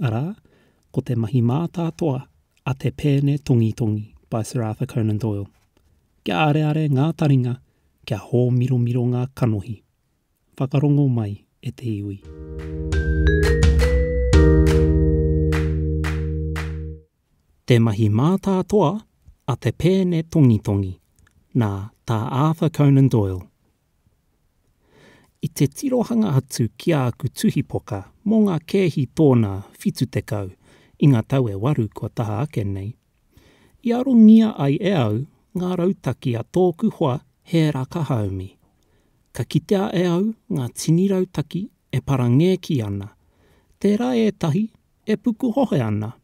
arā, ko te mahi mātātoa a te pēne tongitongi by Sir Arthur Conan Doyle. Kia areare ngā taringa, kia hōmiromiro ngā kanohi. Whakarongo mai e te iwi. Te mahi mātātoa a te pēne tongitongi, nā Tā Arthur Conan Doyle, I te tirohanga atu ki āku tuhipoka mō ngā kēhi tōnā 70 i ngā tau e waru kua taha ake nei, i arongia ai e au ngā rautaki a tōku hoa Hēra Kahaumi. Ka kitea e au ngā tini rautaki e parangēki ana, tērā ētahi e pukuhohe ana,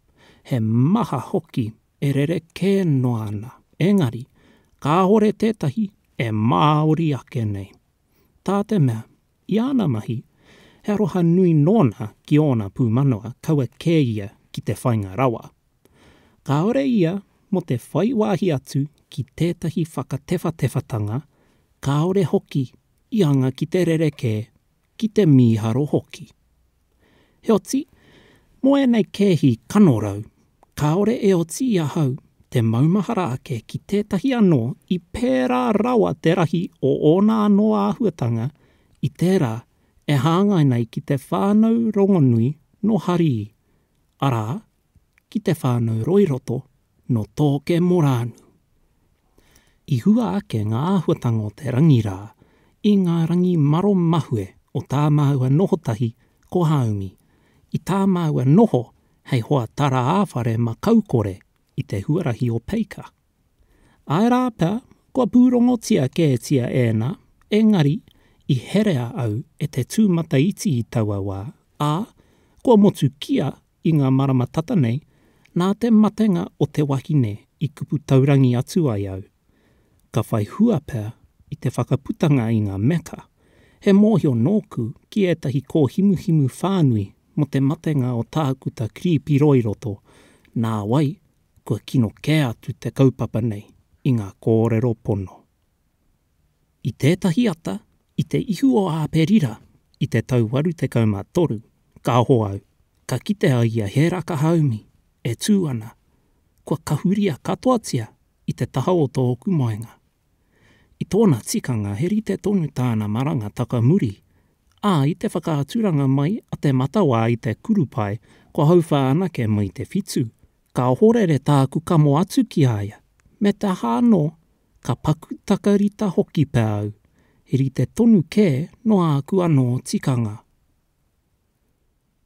he maha hoki e rerekē noa ana, engari, kāhore tētahi e māori ake nei. Tā te mea, i āna mahi, he aroha nui nōna ki ōna pūmanawa kaua kē ia ki te whainga rawa. Kāore ia mō te whai wāhi atu ki tētahi whakatewhatewhatanga, kāore hoki i anga ki te rerekē ki te mīharo hoki. Heoti, mō ēnei kēhi kanorau, kāore e oti i ahau te maumahara ake ki tētahi anō i pērā rawa te rahi o ōna anō āhuatanga i tērā e hāngai nei ki te whānau rongonui nō Harii, arā, ki te whānau Roiroto nō Tōke Morānu. I hua ake ngā āhuatanga o te rangi rā i ngā rangi maro mahue o tā māua noho tahi ko Hāumi, i tā māua noho hei hoa tara-ā-whare makaukore i te huarahi o Peika. Āe rā pea, kua pūrongotia kētia ēnā, engari i herea au e te tūmataiti i taua wā, ā, kua motukia I ngā marama tata nei, nā te matenga o te wahine i kupu taurangi atu ai au. Ka whai hua pea i te whakaputanga i ngā meka, he mōhio nōku ki ētahi kōhimuhimu whānui mō te matenga o Tākuta Kiripi Roiroto, nā wai, kua kino kē atu te kaupapa nei i ngā kōrero pono. I tētahi ata, i te ihu o Āperira, i te tau waru tekau mā toru, ka aho au, ka kite au i a Hēra ka haumi, e tū ana, kua kahuria katoatia i te taha o tōku moenga. I tōna tikanga he rite tonu tāna maranga taka muri, ā, i te whakaaturanga mai a Te Matawā i te kurupae kua hauwha anake mai te whitu, ka ohorere tāku kamo atu ki a ia, me te aha anō, ka paku takarita hoki pea au, he rite tonu kē nō āku anō tikanga.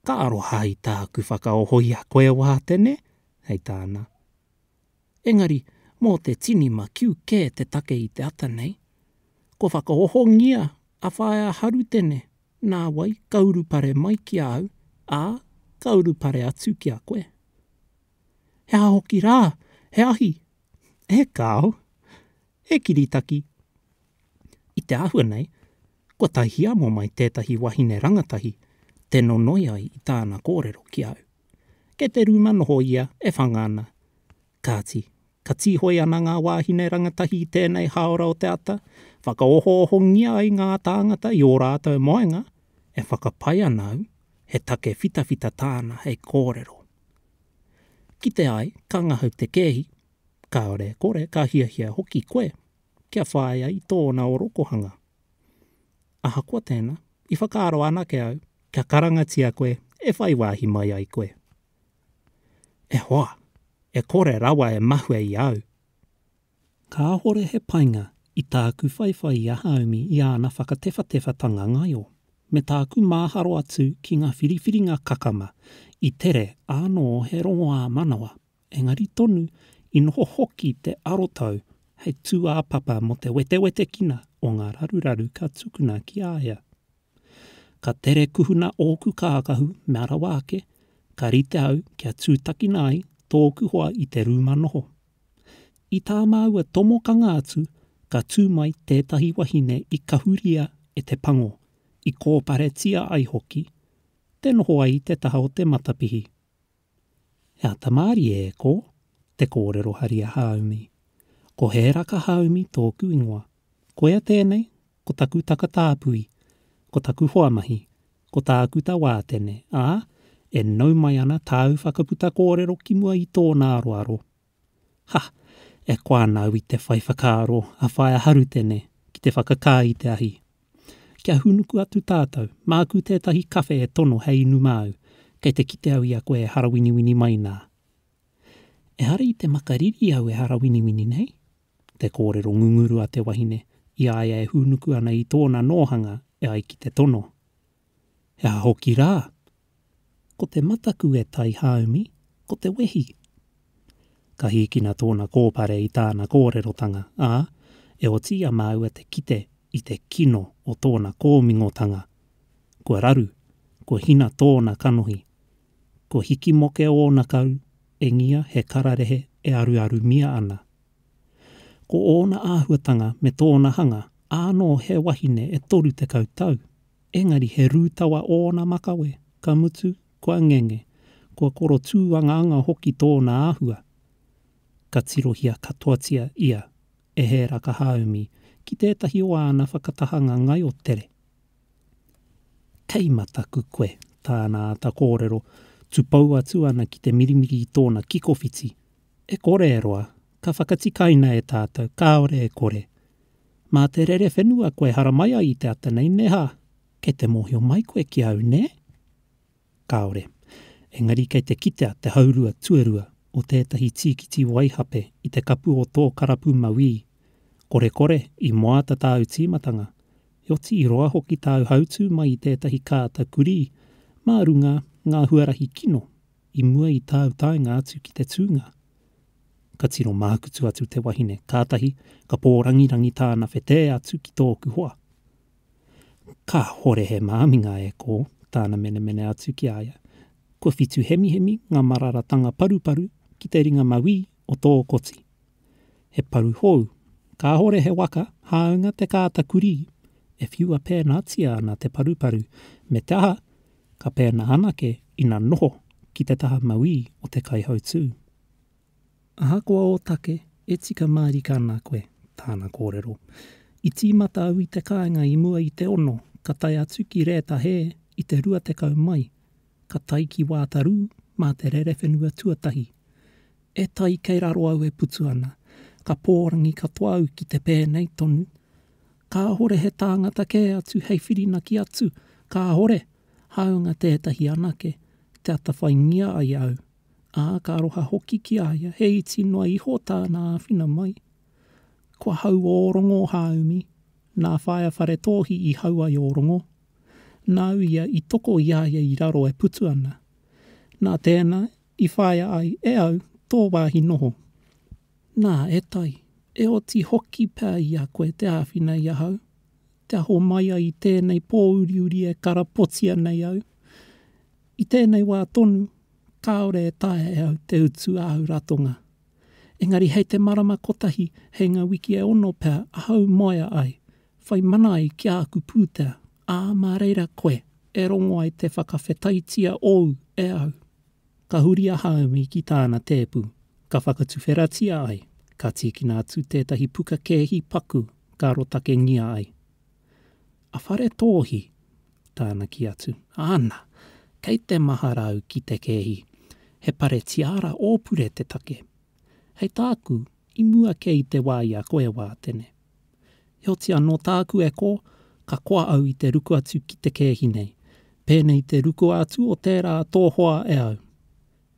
Ka aroha i tāku whakaoho i a koe Wātene, hei tāna. Engari, mō te tini makiu kē te take i te ata nei. Kua whakaohongia a Whaea Harutene, nā wai ka urupare mai ki a au, ā, ka urupare atu ki a koe. He aha hoki rā, he ahi, he kāo, he kiritaki. I te āhua nei, kua tae hiamo mai tētahi wahine rangatahi te nonoi ai i tāna kōrero ki au. Kei te rūma noho ia e whanga ana. Kāti, ka tīhoi ana ngā wāhine rangatahi i tēnei hāora o te ata, whakaohoohongia ai ngā tāngata i ō rātou moenga, e whakapae ana au he take whitawhita tāna hei kōrero. Kite ai, ka ngahau te kēhi, kāore e kore, ka hiahia hoki koe kia whāia i tōna orokohanga. Ahakoa tēnā, i whakaaro anake au kia karangatia koe e whai wāhi mai ai koe. E hoa! E kore rawa e mahue i au! Kāhore he painga i tāku whaiwhai i a Haumi i āna whakatewhatewhatanga ngaio, me tāku māharo atu ki ngā whiriwhiringa kakama i tere āno he rongo-ā-manawa, engari tonu i noho hoki te arotau hei tūāpapa mō te wetewetekina o ngā raruraru ka tukuna ki a ia. Ka tere kuhuna ōku kākahu me arawa ake, ka rite au kia tūtakina ai tōku hoa i te rūma noho. I tā māua tomokanga atu ka tū mai tētahi wahine i kahuria e te pango, i kōparetia ai hoki, te noho ai i te taha o te matapihi. He ata mārie e kō, te kōrero hari a Hāumi. Ko Hēraka Hāumi tōku ingoa. Koia tēnei, ko taku takatāpui, ko taku hoamahi, ko tāku tawātene, ā, e nau mai ana tāu whakaputa kōrero ki mua i tōna aroaro. Ha! E koa ana au i te whai whakaaro a Whaea Harutene ki te whakakā i te ahi. Kia hūnuku atu tātou, māku tētahi kawhe e tono hei inu māu, kei te kite au i a koe e harawiniwini mai nā. Ehara i te makariri au e harawiniwini nei, te kōrero ngunguru a te wahine i a ia e hūnuku ana i tōna nōhanga e ai ki te tono. He aha hoki rā? Ko te mataku e tai haumi, ko te wehi. Ka hīkina tōna kōpare i tāna kōrerotanga, ā, e otiia māua te kite i te kino o tōna kōmingotanga. Kua raru, kua hina tōna kanohi. Kua hikimoke ōna karu, Engia he kararehe e aruarumia ana. Ko ōna āhuatanga me tōna hanga, ānō he wahine e 30 tau, engari he rūtawa ōna makawe, ka mutu, kua ngenge, kua koro tūangaanga hoki tōna āhua. Ka tirohia katoatia ia e Hēra Kahaumi ki tētahi o āna whakatahanga ngaio tere. Kei mataku koe, tāna āta kōrero, tupou atu ana ki te mirimiri i tōna kikowhiti. E kore e roa, ka whakatikaina e tātou, kāore e kore. Mā te rere whenua koe haramai ai i te ata nei, nē hā? Kei te mōhio mai koe ki au, nē? Kāore. Engari kei te kitea te haurua tuarua o tētahi tīkiti waihape i te kapu o tō karapu mauī. Korekore, i moata tāu tīmatanga, heoti i roa hoki tāu hautū mai i tētahi kāta kurī mā runga ngā huarahi kino i mua i tāu taenga atu ki te tūnga. Ka tino mākutu atu te wahine, kātahi ka pōrangirangi tāna whetē atu ki tōku hoa. Kāhore he māminga e kō, tāna menemene atu ki a ia. Kua whitu hemihemi ngā mararatanga paruparu ki te ringa mawī o tō koti. He paru hou, kāhore he waka, hāunga te kāta kurī, e whiua pēnātia ana te paruparu, me te aha, ka pēnā anake ina noho ki te taha mawī o te kaihautū. Ahakoa ōtake, e tika mārika ana koe, tāna kōrero. I tīmata au i te kāinga i mua i te ono, ka tae atu ki Rēta Hē i te rua tekau mai, ka tae ki Wātarū mā te rerewhenua tuatahi. E tai kei raro au e putu ana, ka pōrangi katoa au ki te pēnei tonu. Kāhore he tāngata kē atu hei whirinaki atu, kāhore, hāunga tētahi anake, te atawhaingia ai au. ā, ka aroha hoki ki a ia, he iti noa iho tāna āwhina mai. Ko ahau ō rongo hāumi, nā Whaea Wharetōhi i hau ai ō rongo. Nāu ia i toko i a ia i raro e putu ana. Nā tēnā i whāia ai e au tō wāhi noho. Nā, e Tai, e oti hoki pea i a koe te āwhina i ahau, kia homai ai i tēnei pōuriuri e karapotia nei au. I tēnei wā tonu, kāore e taea e au te utu āu ratonga. Engari hei te marama kotahi, hei ngā wiki e ono pea ahau moea ai, whai mana ai ki āku pūtea, ā, mā reira koe e rongo ai te whakawhetaitia ōu e au. Ka huri a Haumi ki tāna tēpu, ka whakatuwheratia ai, ka tīkina atu tētahi puka kēhi paku ka rotakengia ai. A Whare Tōhi, tāna ki atu, Āna, kei te mahara au ki te kēhi, he pare tiara ōpure te take. Hei tāku, i mua kē i te wā i a koe, Wātene. Heoti anō tāku e kō, ka koa au i te ruku atu ki te kēhi nei, pēnei i te ruku atu o tērā tō hoa e au.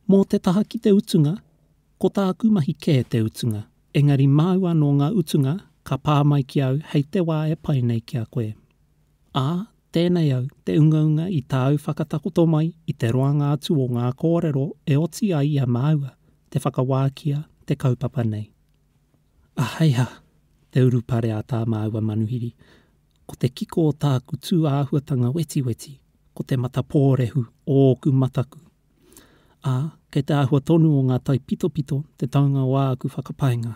Mō te taha ki te utunga, ko tāku mahi kē te utunga, Engari māu anō ngā utunga ka pā mai ki au hei te wā e pai nei ki a koe. Ā, tēnei au, te ungaunga i tāu whakatakoto mai i te roanga atu o ngā kōrero e oti ai i a māua te whakawākia te kaupapa nei. Aheiha! te urupare a tā māua manuhiri, ko te kiko o tāku tūāhuatanga wetiweti, ko te matapōrehu o ōku mataku Ā, kei te āhua tonu o ngā taipitopito te taunga o āku whakapainga.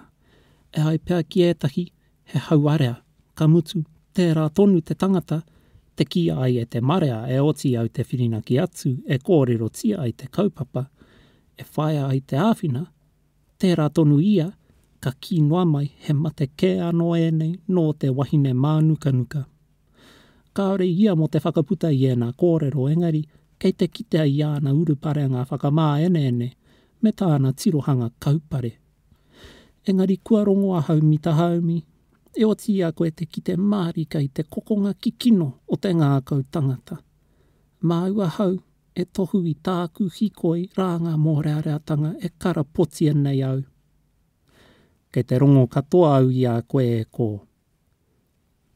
E ai pea ki ētahi, he hauarea, ka mutu, tērā tonu te tangata, te kī ai e te marea e oti au te whirinaki atu e kōrerotia ai te kaupapa, e whāia ai te āwhina, Tērā tonu ia, ka kī noa mai he mate kē anō ēnei nō te wahine mānukanuka. Kāore ia mō te whakaputa i ēnā kōrero engari kei te kitea i āna uruparenga whakamāeneene me tāna tirohanga kaupare. Engari kua rongo a Haumi Tahaumi, e oti i a koe te kite mārika i te kokonga kikino o te ngākau tangata. Māu ahau E tohu i tāku hikoi rānga mōreareatanga e karapotia nei au. Kei te rongo katoa au i a koe e kō.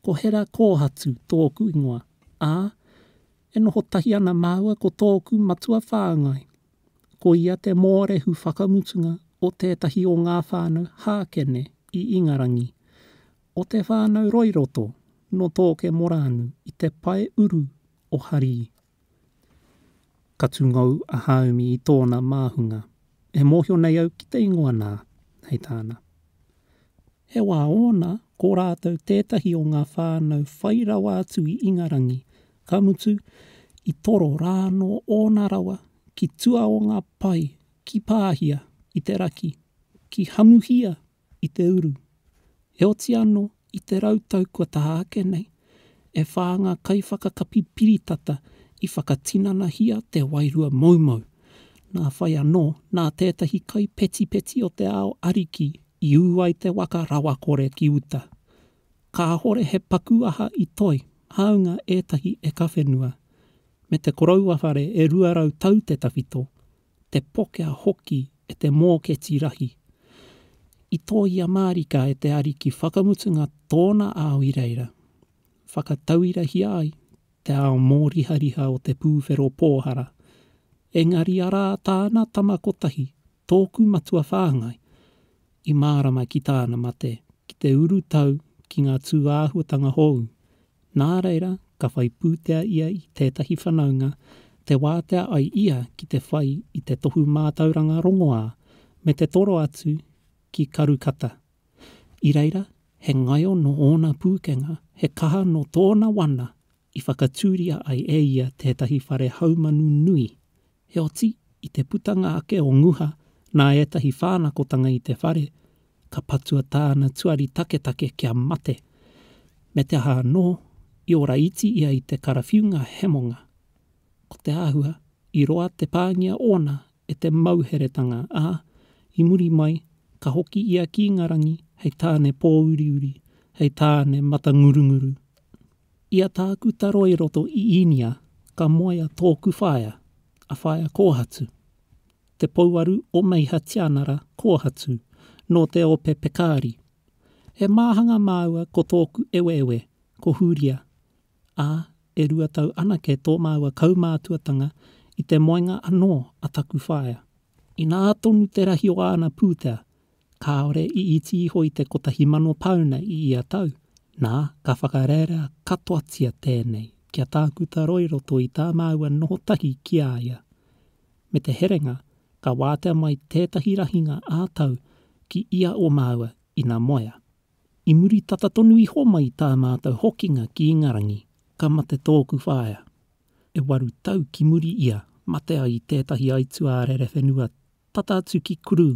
Ko Hera Kōhatu tōku ingoa, ā, e noho tahi ana māua ko tōku matua whāngai. Ko ia te mōrehu whakamutunga o tētahi o ngā whānau Hākene i Ingarangi, o te whānau Roiroto nō Tōkemorānu i te pae uru o Harii. Ka tungou a Hāumi i tōna māhunga. E mōhio nei au ki te ingoa nā, hei tāna. He wā ōna, ko rātou tētahi o ngā whānau whai rawa atu i Ingarangi, ka mutu, i toro rā anō ōna rawa ki tua o ngā pae, ki Pāhia, i te raki, ki Hamuhia, i te uru. Heoti anō, i te rau tau kua taha ake nei, e whā ngā kaiwhakakapi piritata i whakatinanahia te wairua moumou. Nā whai anō, nā tētahi kai petipeti o te ao ariki i ū ai te waka rawakore ki uta. Kāhore he paku aha i toe, hāunga ētahi e kawhenua. Me te koroua whare e rua rau tau te tawhito, te pokea hoki e te mōketi rahi. I tōia mārika e te Ariki whakamutunga tōna ao i reira, whakatauirahia ai te ao mōrihariha o te pūwhero pōhara, engari arā tāna tama kotahi, tōku matua whāngai, i mārama ki tāna mate, ki te urutau ki ngā tūāhuatanga hōu, Nā reira, ka whai pūtea ia i tētahi whanaunga, te wātea ai ia ki te whai i te tohu mātauranga rongoā, me te toro atu ki Karukata. I reira, he ngaio nō ōna pūkenga, he kaha nō tōna wana i whakatūria ai e ia tētahi whare haumanu nui, Heoti, i te putanga ake o Nguha nā ētahi whānakotanga i te whare, ka patua tāna tuari taketake kia mate. Me te aha anō, i ora iti ia i te karawhiunga hemonga. Ko te āhua, i roa te pāngia ōna e te mauheretanga, ā, i muri mai, ka hoki ia ki Ingarangi hei tāne pōuriuri, hei tāne matangurunguru. I a Tākuta Roy Roto i Īnia ka moea tōku whaea, a Whaea Kōhatu, te pouaru o Meiha Tianara Kōhatu nō te ope Pekari. He māhanga māua ko tōku eweewe ko Hūria, ā, e rua tau anake tō māua kaumātuatanga i te moenga anō a taku whaea. Inā tonu te rahi o āna pūtea, kāore i iti iho i te kotahi mano pāuna i ia tau, nā, ka whakarearea katoatia tēnei kia tākuta roa i roto i tā māua noho tahi ki a ia. Me te herenga, ka wātea mai tētahi rahinga ā-tau ki ia o māua ina moea. I muri tata tonu iho mai i tā mātou hokinga ki Ingarangi, ka mate tōku whaea. E waru tau ki muri ia mate ai i tētahi aituā rerewhenua tata atu ki Kurū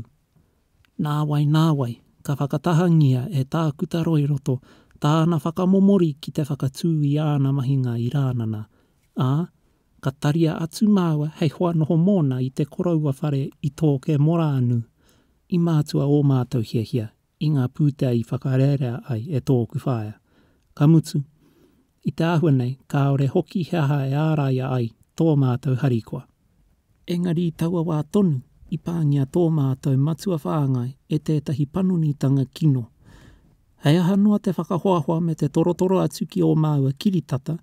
Nāwai nāwai, ka whakatahangia e Tākuta Roiroto tāna whakamomori ki te whakatū i āna mahinga i Rānana, ā, ka taria atu māua hei hoa noho mōna i te koroua whare i tōke Moraanu, i mātua ō mātou hiahia i ngā pūtea i whakarearea ai e tōku whaea. Ka mutu, I te āhua nei, kāore hoki he aha e āraia ai tō mātou harikoa. Engari i taua wā tonu, i pāngia tō mātou matua whāngai e tētahi panonitanga kino. Hei aha noa te whakahoahoa me te torotoro atu ki ō māua kiritata,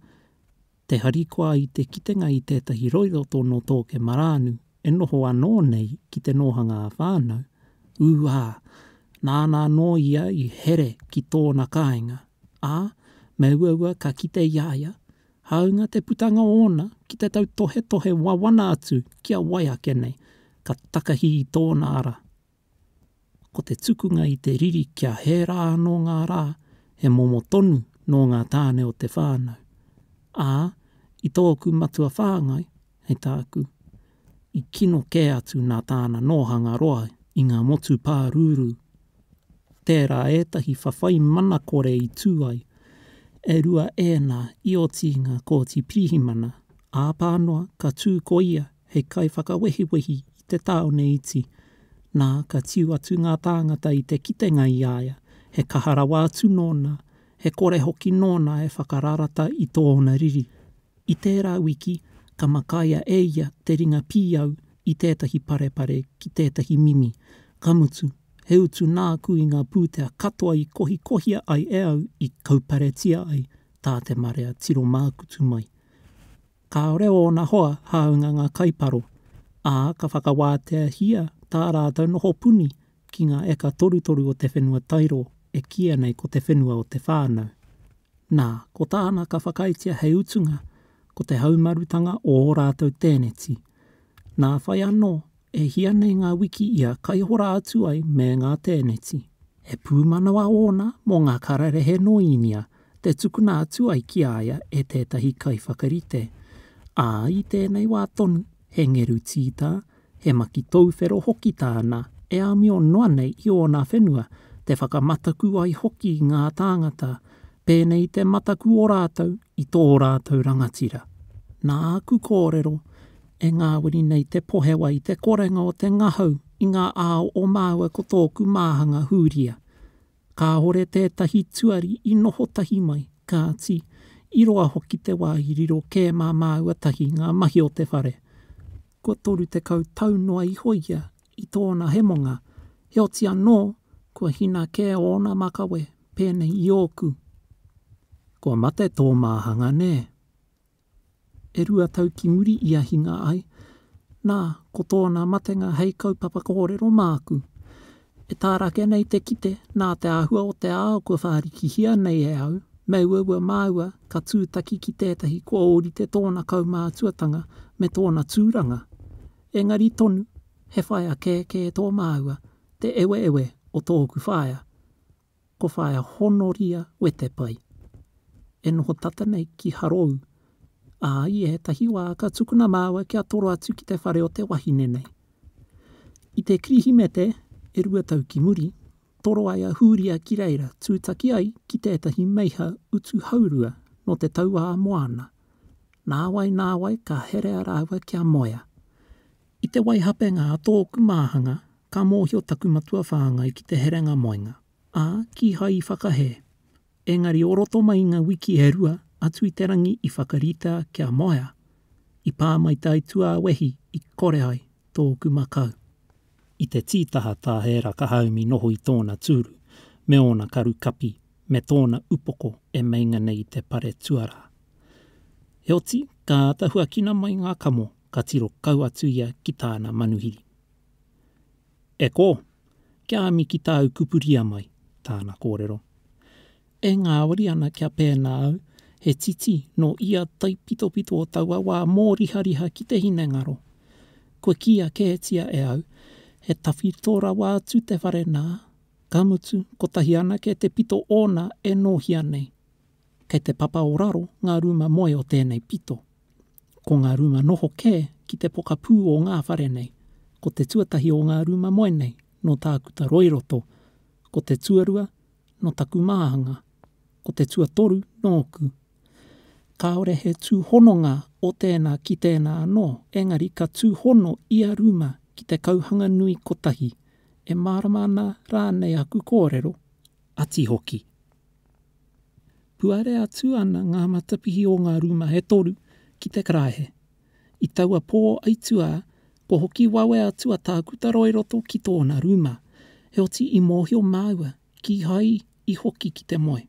te harikoa i te kitenga i tētahi roiro tō Nōtōke Marānu e noho anō nei ki te nōhanga ā-whānau, ū ā, nāna anō ia i here ki tōna kāinga, ā, me uaua ka kite i a ia, hāunga te putanga ōna ki te tautohetohe wawana atu ki a wai ake nei, ka takahi i tōna ara. Ko te tukunga i te riri kia hē rā anō ngā rā, he momo tonu nō ngā tāne o te whānau. Ā, i tōku matua whāngai, hei tāku, i kino kē atu nā tāna nōhanga roa i ngā motu pārūrū. Tērā ētahi whawhai mana kore i tū ai, e rua ēnā i oti i ngā Kōti Pirihimana, āpā noa ka tū ko ia hei kaiwhakawehiwehi i te tāone iti, nā, ka tiu atu ngā tāngata i te kitenga i a ia, he kaha rawa atu nōna, he kore hoki nōna e whakararata i tōna riri. I tērā wiki, ka makaia e ia te ringa pīau i tētahi parepare ki tētahi mimi, ka mutu, he utu nāku i ngā pūtea katoa i kohikohia ai e au i kauparetia ai tā te marea tiro mākutu mai. Kāore ōna hoa hāunga ngā kaiparo, ā, ka whakawāteahia tā rātou noho puni ki ngā eka torutoru o te whenua tairo e kīia nei ko te whenua o te whānau. Nā, ko tāna ka whakaaetia hei utunga ko te haumarutanga o ō rātou tēneti. Nā whai anō E hia nei ngā wiki ia kaihora atu ai me ngā tēneti. He pūmanawa ōna mō ngā kararehe nō Īnia te tukuna atu ai ki a ia e tētahi kaiwhakarite, ā, i tēnei wā tonu, he ngeru tītā, he maki tauwhero hoki tāna e amio noa nei i ōna whenua, te whakamataku ai hoki i ngā tāngata, pēnei i te mataku o rātou i tō rātou rangatira. Nā aku kōrero, E ngāwari nei te pohewa i te korenga o te ngahau i ngā ao o māua ko tōku māhanga hūria. Kāore tētahi tuari i noho tahi mai, kāti, i roa hoki te wā i riro kē mā māua tahi ngā mahi o te whare. Kua 30 tau noa iho ia i tōna hemonga, heoti anō, kua hina kē ōna makawe, pēnei i ōku. Kua mate tō māhanga nē? E rua tau ki muri i ahinga ai, nā, ko tōna matenga hei kaupapa kōrero māku. E tāra ake nei te kite, nā te āhua o te ao kua whārikihia nei e au, me uaua māua ka tūtaki ki tētahi kua ōrite tōna kaumātuatanga me tōna tūranga. Engari tonu, he whaea kēkē tō māua, te eweewe o tōku whaea. Ko Whaea Honoria Wetepai, e noho tata nei ki Harou, ā, i ētahi wā ka tukuna māua kia toro atu ki te whare o te wahine nei. I te Kirihimete e rua tau ki muri, toro ai a Hūria ki reira tūtaki ai ki tētahi meiha utu haurua nō te tauā moana, nāwai nāwai ka herea rāua kia moea. I te waihapenga a tōku māhanga, ka mōhio taku matua whāngai ki te herenga moenga, ā, kīhai i whakahē. Engari o roto mai i ngā wiki e rua atu i te rangi i whakarita kia moea, i pā mai tai tuāwehi i kore ai tōku makau. I te tītaha tā ērā ka haumi noho i tōna tūru, me ōna karu kapi, me tōna upoko e meinga nei i te pare tuarā. Heoti, ka āta huakina mai ngā kamo, ka tiro kau atu ia ki tāna manuhiri. E kō, kia ami ki tāu kupuria mai, tāna kōrero. E ngāwari ana kia pēnā au, he titi nō ia taipitopito o taua wā mōrihariha ki te hinengaro. Kua kīia kētia e au, he tawhito rawa atu te whare nā, ka mutu kotahi anake te pito ōna e nōhia nei. Kei te papa o raro ngā rūma moe o tēnei pito. Ko ngā rūma noho kē ki te pokapū o ngā whare nei, ko te tuatahi o ngā rūma moe nei nō Tākuta Roiroto, ko te tuarua nō taku māhanga, ko te tuatoru nōku. Kāore he tūhononga o tēnā ki tēnā anō, engari ka tūhono ia rūma ki te kauhanga nui kotahi, e mārama ana rānei aku kōrero, ati hoki. Puare atu ana ngā matapihi o ngā rūma e toru ki te karaehe. I taua pō aituā, kua hoki wawe atu a Tākutaro i roto ki tōna rūma, heoti i mōhio māua kīhai i hoki ki te moe.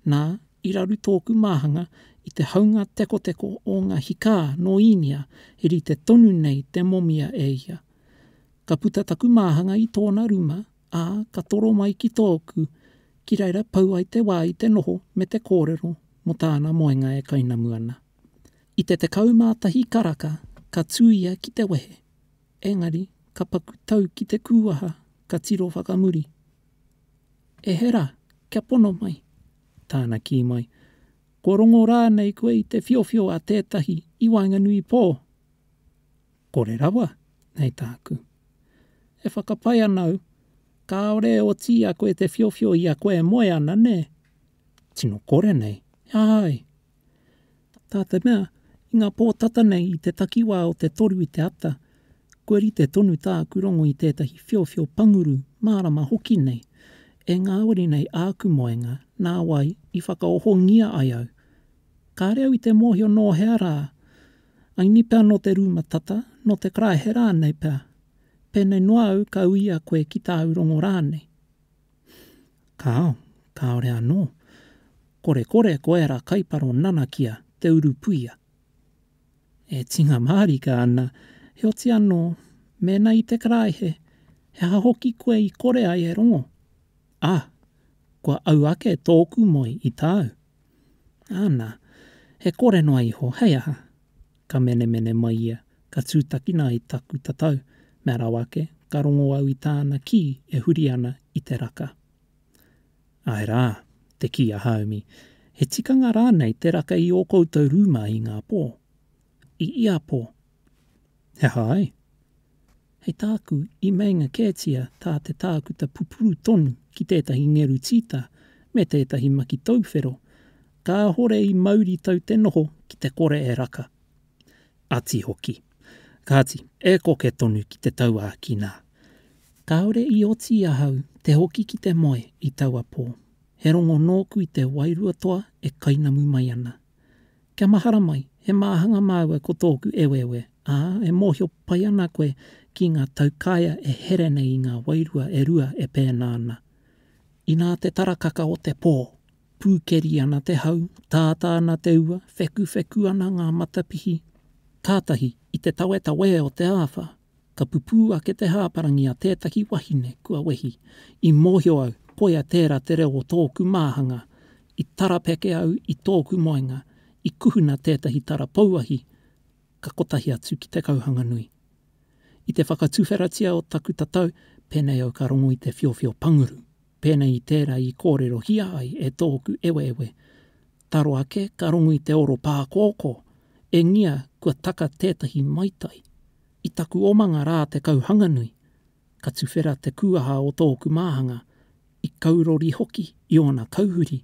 Nā, i raru tōku māhanga i te haunga tekoteko o ngā hikā nō Īnia he rite tonu nei te momia e ia. Ka puta taku māhanga i tōna rūma, ā, ka toro mai ki tōku, ki reira pau ai te wā i te noho me te kōrero mō tāna moenga e kainamu ana. I te 11 karaka ka tū ia ki te wehe, engari ka paku tau ki te kūwaha ka tiro whakamuri, E he rā, kia pono mai! Tāna kī mai, Kua rongo rānei koe i te whiowhio a tētahi i waenganui i pō? Kore rawa, hei tāku. E whakapae ana au, kāore e oti i a koe te whiowhio i a koe e moe ana, nē? Tino kore nei, he aha ai? Tā te mea, i ngā pō tata nei i te takiwā o te toru i te ata, kua rite tonu tāku rongo i tētahi whiowhio panguru mārama hoki nei, e ngāwari nei āku moenga nā wai i whakaohongia ai au. Kāre au i te mōhio nō hea rā Āinī pea nō te rūma tata, nō te karaehe rānei pea, pēnei noa au ka uia koe ki tāu rongo rānei. Kāo, kāore anō. Korekore ko ērā kaiparo nanakia te urupuia. E tinga mārika ana, heoti anō, mēnā i te karaehe, he aha hoki koe i kore ai e rongo? Ā, kua au ake tōku moe i tāu, Ana, he kore noa iho, hei aha? Ka menemene mai ia, ka tūtakina ai taku tatau, mea rawa ake, ka rongo au i tāna kī e huri ana i te raka. Āe rā, te kī a Haumi, he tikanga rānei te raka i ō koutou rūma i ngā pō? I ia pō. He aha ai? Hei tāku, i meinga kētia tā te tākuta pupuru tonu ki tētahi ngeru tīta me tētahi maki tauwhero, kāhore i mauri tau te noho ki te kore e raka. Ati hoki. Kāti, e koke tonu ki te tauākina. Kāore i oti ahau te hoki ki te moe i taua pō. He rongo nōku i te wairua toa e kainamu mai ana. Kia mahara mai, he māhanga māua ko tōku eweewe, ā, e mōhio pai ana koe ki ngā taukaea e here nei i ngā wairua e rua e pēnā ana. Inā te tarakaka o te pō! Pūkeri ana te hau, tātā ana te ua, whekuwheku ana ngā matapihi. Kātahi, i te tawetawe o te āwha, Ka pupū ake te hāparangi a tētahi wahine kua wehi. I mōhio au, koia tērā te reo o tōku māhanga. I tarapeke au i tōku moenga, i kuhuna tētahi tara pouahi ka kotahi atu ki te kauhanga nui. I te whakatuwheratia o taku tatau, pēnei au ka rongo i te whiowhio panguru. Pēnei i tērā i kōrerohia ai e tōku eweewe, taro ake ka rongu i te oro pākōkō, engia kua taka tētahi maitai. I taku omanga rā te Kauhanganui, ka tuwhera te kūaha o tōku māhanga, i kaurori hoki i ōna kauhuri.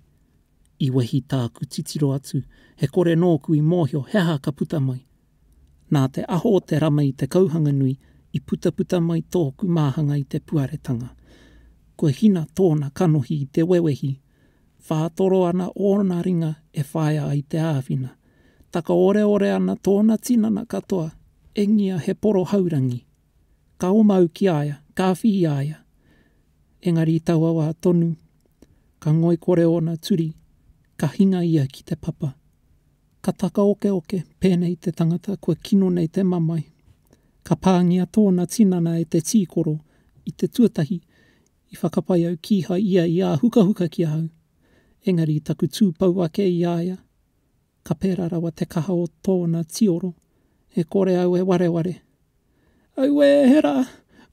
I wehi tāku titiro atu, he kore nōku i mōhio he aha ka puta mai. Nā te aho o te rama i Te Kauhanganui i putaputa mai tōku māhanga i te puaretanga. Ko Hina tōna kanohi i te wewehi, whātoro ana ōna ringa e whaia ai te āwhina. Takaoreore ana tōna tinana katoa, engia he poro haurangi. Ka oma au ki a ia, ka whi i a ia. Engari i taua wā tonu, ka ngoikore ōna turi, ka hinga ia ki te papa. Ka takaokeoke, pēnei te tangata kua kino nei te mamae. Ka pāngia tōna tinana e te tīkoro i te tuatahi i whakapae au kīhai ia i āhukahuka ki ahau. Engari i taku tū pau ake i a ia, ka pērā rawa te kaha o tōna tioro, e kore au e wareware. Auē, he rā!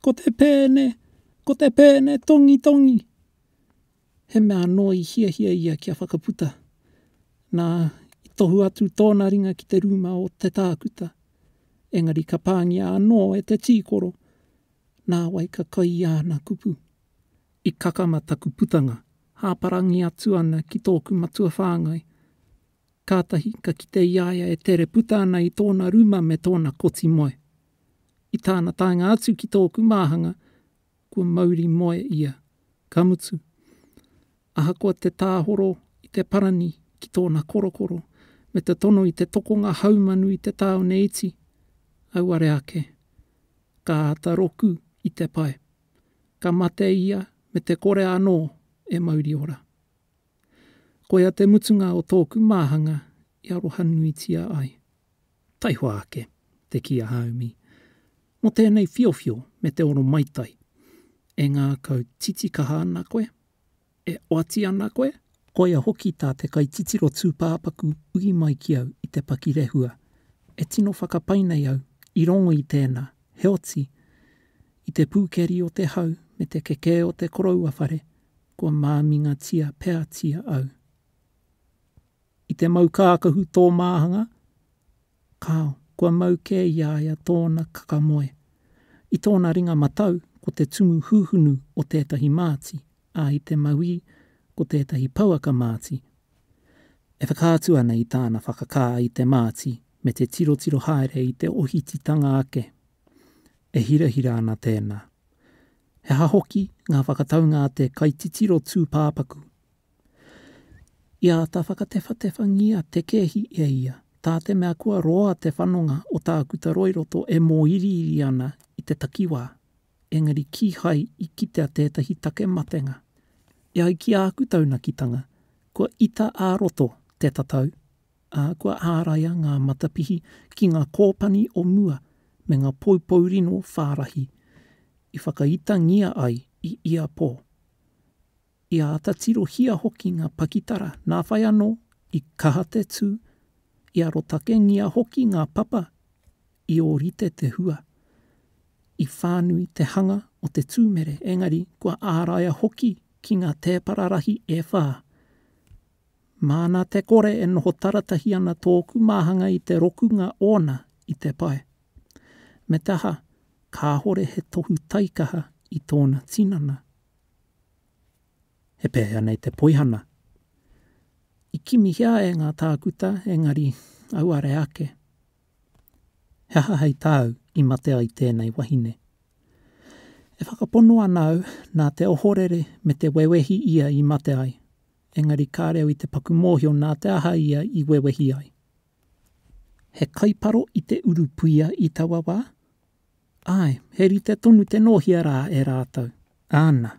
Ko te pēne! Ko te pēne tongitongi! he mea anō i hiahia ia kia whakaputa, nā, i tohu atu tōna ringa ki te rūma o te tākuta, engari ka pāngia anō e te tīkoro, nāwai ka kai i āna kupu. I kakama taku putanga, hāparangi atu ana ki tōku matua whāngai. Kātahi ka kite i a ia e tere puta ana i tōna rūma me tōna koti moe. I tāna taenga atu ki tōku māhanga, kua mauri moe ia, ka mutu, ahakoa te tāhoro i te parani ki tōna korokoro me te tono i te tokonga haumanu i te tāone iti, auare ake, ka āta roku i te pae, ka mate ia me te kore anō e mauri ora. Koia te mutunga o tōku māhanga i arohanuitia ai. Taihoa ake, te kī a Haumi, mō tēnei whiowhio me te oro maitai. E ngākau titikaha ana koe? E oati ana koe? Koia hoki tā te kaititiro tūpāpaku ui mai ki au i te pakirehua. E tino whakapai nei au i rongo i tēnā, heoti, i te pūkeri o te hau me te kekē o te koroua whare, kua māmingatia peatia au. I te mau kākahu tō māhanga, kāo, kua mau kē i a ia tōna kakamoe. I tōna ringa matau, ko te tumu hūhunu o tētahi māti, ā, i te mauī, ko tētahi pouaka māti. E whakaatu ana i tāna whakakā i te māti me te tirotiro haere i te ohititanga ake. E hirahira ana tēnā. He aha hoki ngā whakataunga a te kaititiro tūpāpaku I āta whakatewhatewhangia te kēhi e ia, tā te mea kua roa te whanonga o Tākuta Roiroto e mōiriiri ana i te takiwā, engari kīhai i kitea tētahi take matenga. E ai ki āku taunakitanga, kua ita ā-roto te tatau, ā, kua āraia ngā matapihi ki ngā kōpani o mua me ngā poupou rino whārahi i whakaitangia ai i ia pō. I āta tirohia hoki ngā pakitara, nā whai anō, i kaha te tū, i arotakengia hoki ngā papa i ōrite te hua, i whānui te hanga o te tūmere, engari kua āraia hoki ki ngā tēpara rahi e whā. Māna te kore e noho taratahi ana tōku māhanga i te rokunga ōna i te pae. Me te aha, kāhore he tohu taikaha i tōna tinana. He pēhea nei te poihana? I kimihia e ngā tākuta, engari, auare ake. He aha hei tāu i mate ai tēnei wahine? E whakapono ana au nā te ohorere me te wewehi ia i mate ai, engari ka reo i te paku mōhio nā te aha ia i wewehi ai. He kaiparo i te urupuia i taua wā, Āe, he rite tonu te nōhia rā e rātou. Āna.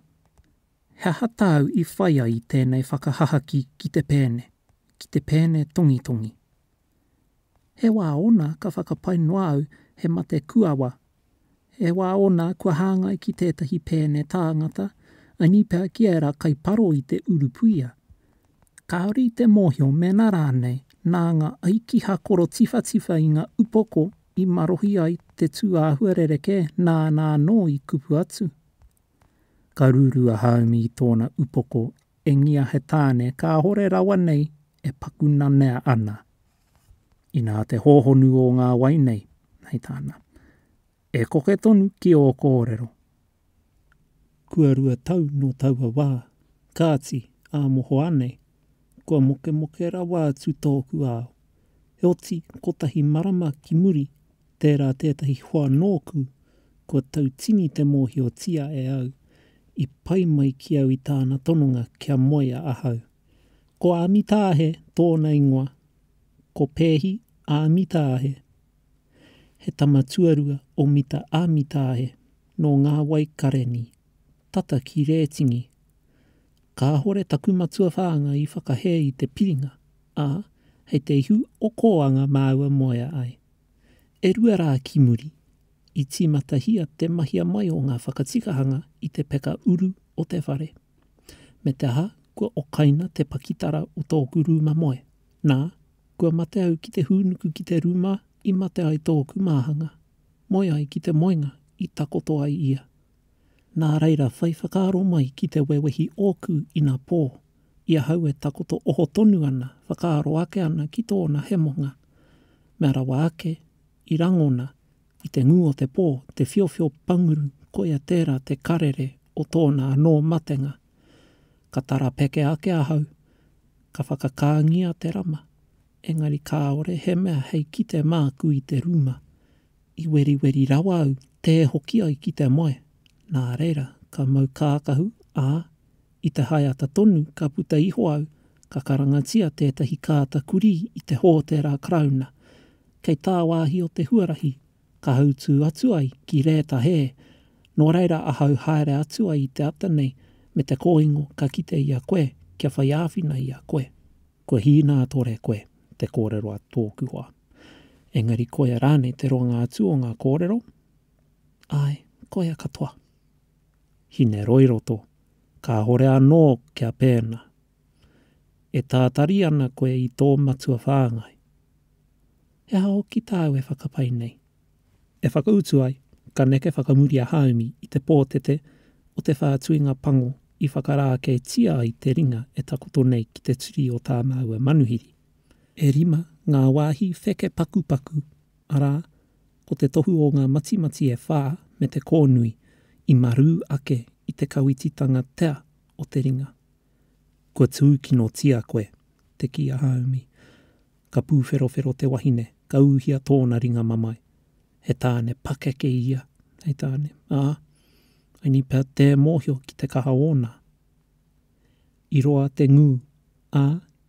He aha tāu i whai ai i tēnei whakahahaki ki te pēne, ki te pēne tongitongi? He wā ōna ka whakapae noa au he mate kuawa, he wā ōna kua hāngai ki tētahi pēne tāngata, anī pea ki ērā kai paro i te urupuia. Kāore i te mōhio mēnā rānei nā ngā aiki hakoro tiwhatiwha i ngā upoko i marohi ai te tū āhua rerekē nāna anō i kupu atu. Ka ruru a Haumi i tōna upoko engia he tāne kāhore rawa nei e paku nanea ana. Inā te hōhonu o ngā wai nei, hei tāna, E koke tonu ki ō kōrero. kua rua tau nō taua wā, kāti, ā mohoa nei, kua mokemoke rawa atu tōku ao. Heoti, kotahi marama ki muri, tērā tētahi hoa nōku, kua tau tini te mōhiotia e au, i pai mai ki au i tāna tononga kia moea ahau. Ko Āmitaahe tōna ingoa, ko Peehi Āmitaahe. He tama tuarua o Mita a Mitaahe, nō Ngā Wai Kareni, tata ki Rētini. Kāhore taku matua whāngai i whakahē i te piringa, ā, hei te ihu o Kōanga māua moea ai. E rua rā ki muri, i tīmatahia te mahia mai o ngā whakatikahanga i te peka uru o te whare. Me te aha, kua okaina te pakitara o tōku rūma moe, nā, Kua mate au ki te hūnuku ki te rūma i mate ai tōku māhanga, moe ai ki te moenga i takoto ai ia. Nā reira whai whakaaro mai ki te wewehi ōku ina pō, i ahau e takoto oho tonu ana whakaaro ake ana ki tōna hemonga. Mea rawa ake, i rangona, i te ngū o te pō, te whiowhio panguru koia tērā te karere o tōna anō matenga. Ka tarapeke ake ahau, ka whakakāngia te rama, engari kāore he mea hei kite māku i te rūma. I weriweri rawa au tē hoki ai ki te moe, nā reira ka mau kākahu, ā, i te haeata tonu ka puta iho au, ka karangatia tētahi kāta kurī i te hōtera Karauna. Kei tāwāhi o te huarahi ka hautū atu ai ki rēta hē, nō reira ahau haere atu ai i te ata nei me te kōingo ka kite i a koe kia whai āwhina i a koe. Kua hīnātore koe te kōrero a tōku hoa. Engari koia rānei te roanga atu o ngā kōrero? Āe, koia katoa. Hineroiroto, kāhore anō kia pēnā. E tātari ana koe i tō matua whāngai. He aha hoki tāu e whakapae nei? E whakautu ai, ka neke whakamuri a Haumi i te pōtete o te whātuinga pango i whakarākeitia ai te ringa e takoto nei ki te turi o tā māua manuhiri. E rima ngā wāhi wheke pakupaku, arā, ko te tohu o ngā matimati e whā me te kōnui, i marū ake i te kawititanga tea o te ringa. Kua tūkinotia koe, te kī a Hāumi. Ka pūwherowhero te wahine, ka ūhia tōna ringa mamae. He tāne pakeke ia, hei tāne, ā, I need pea tē mōhio ki te kaha ōna. I roa te ngū, ā,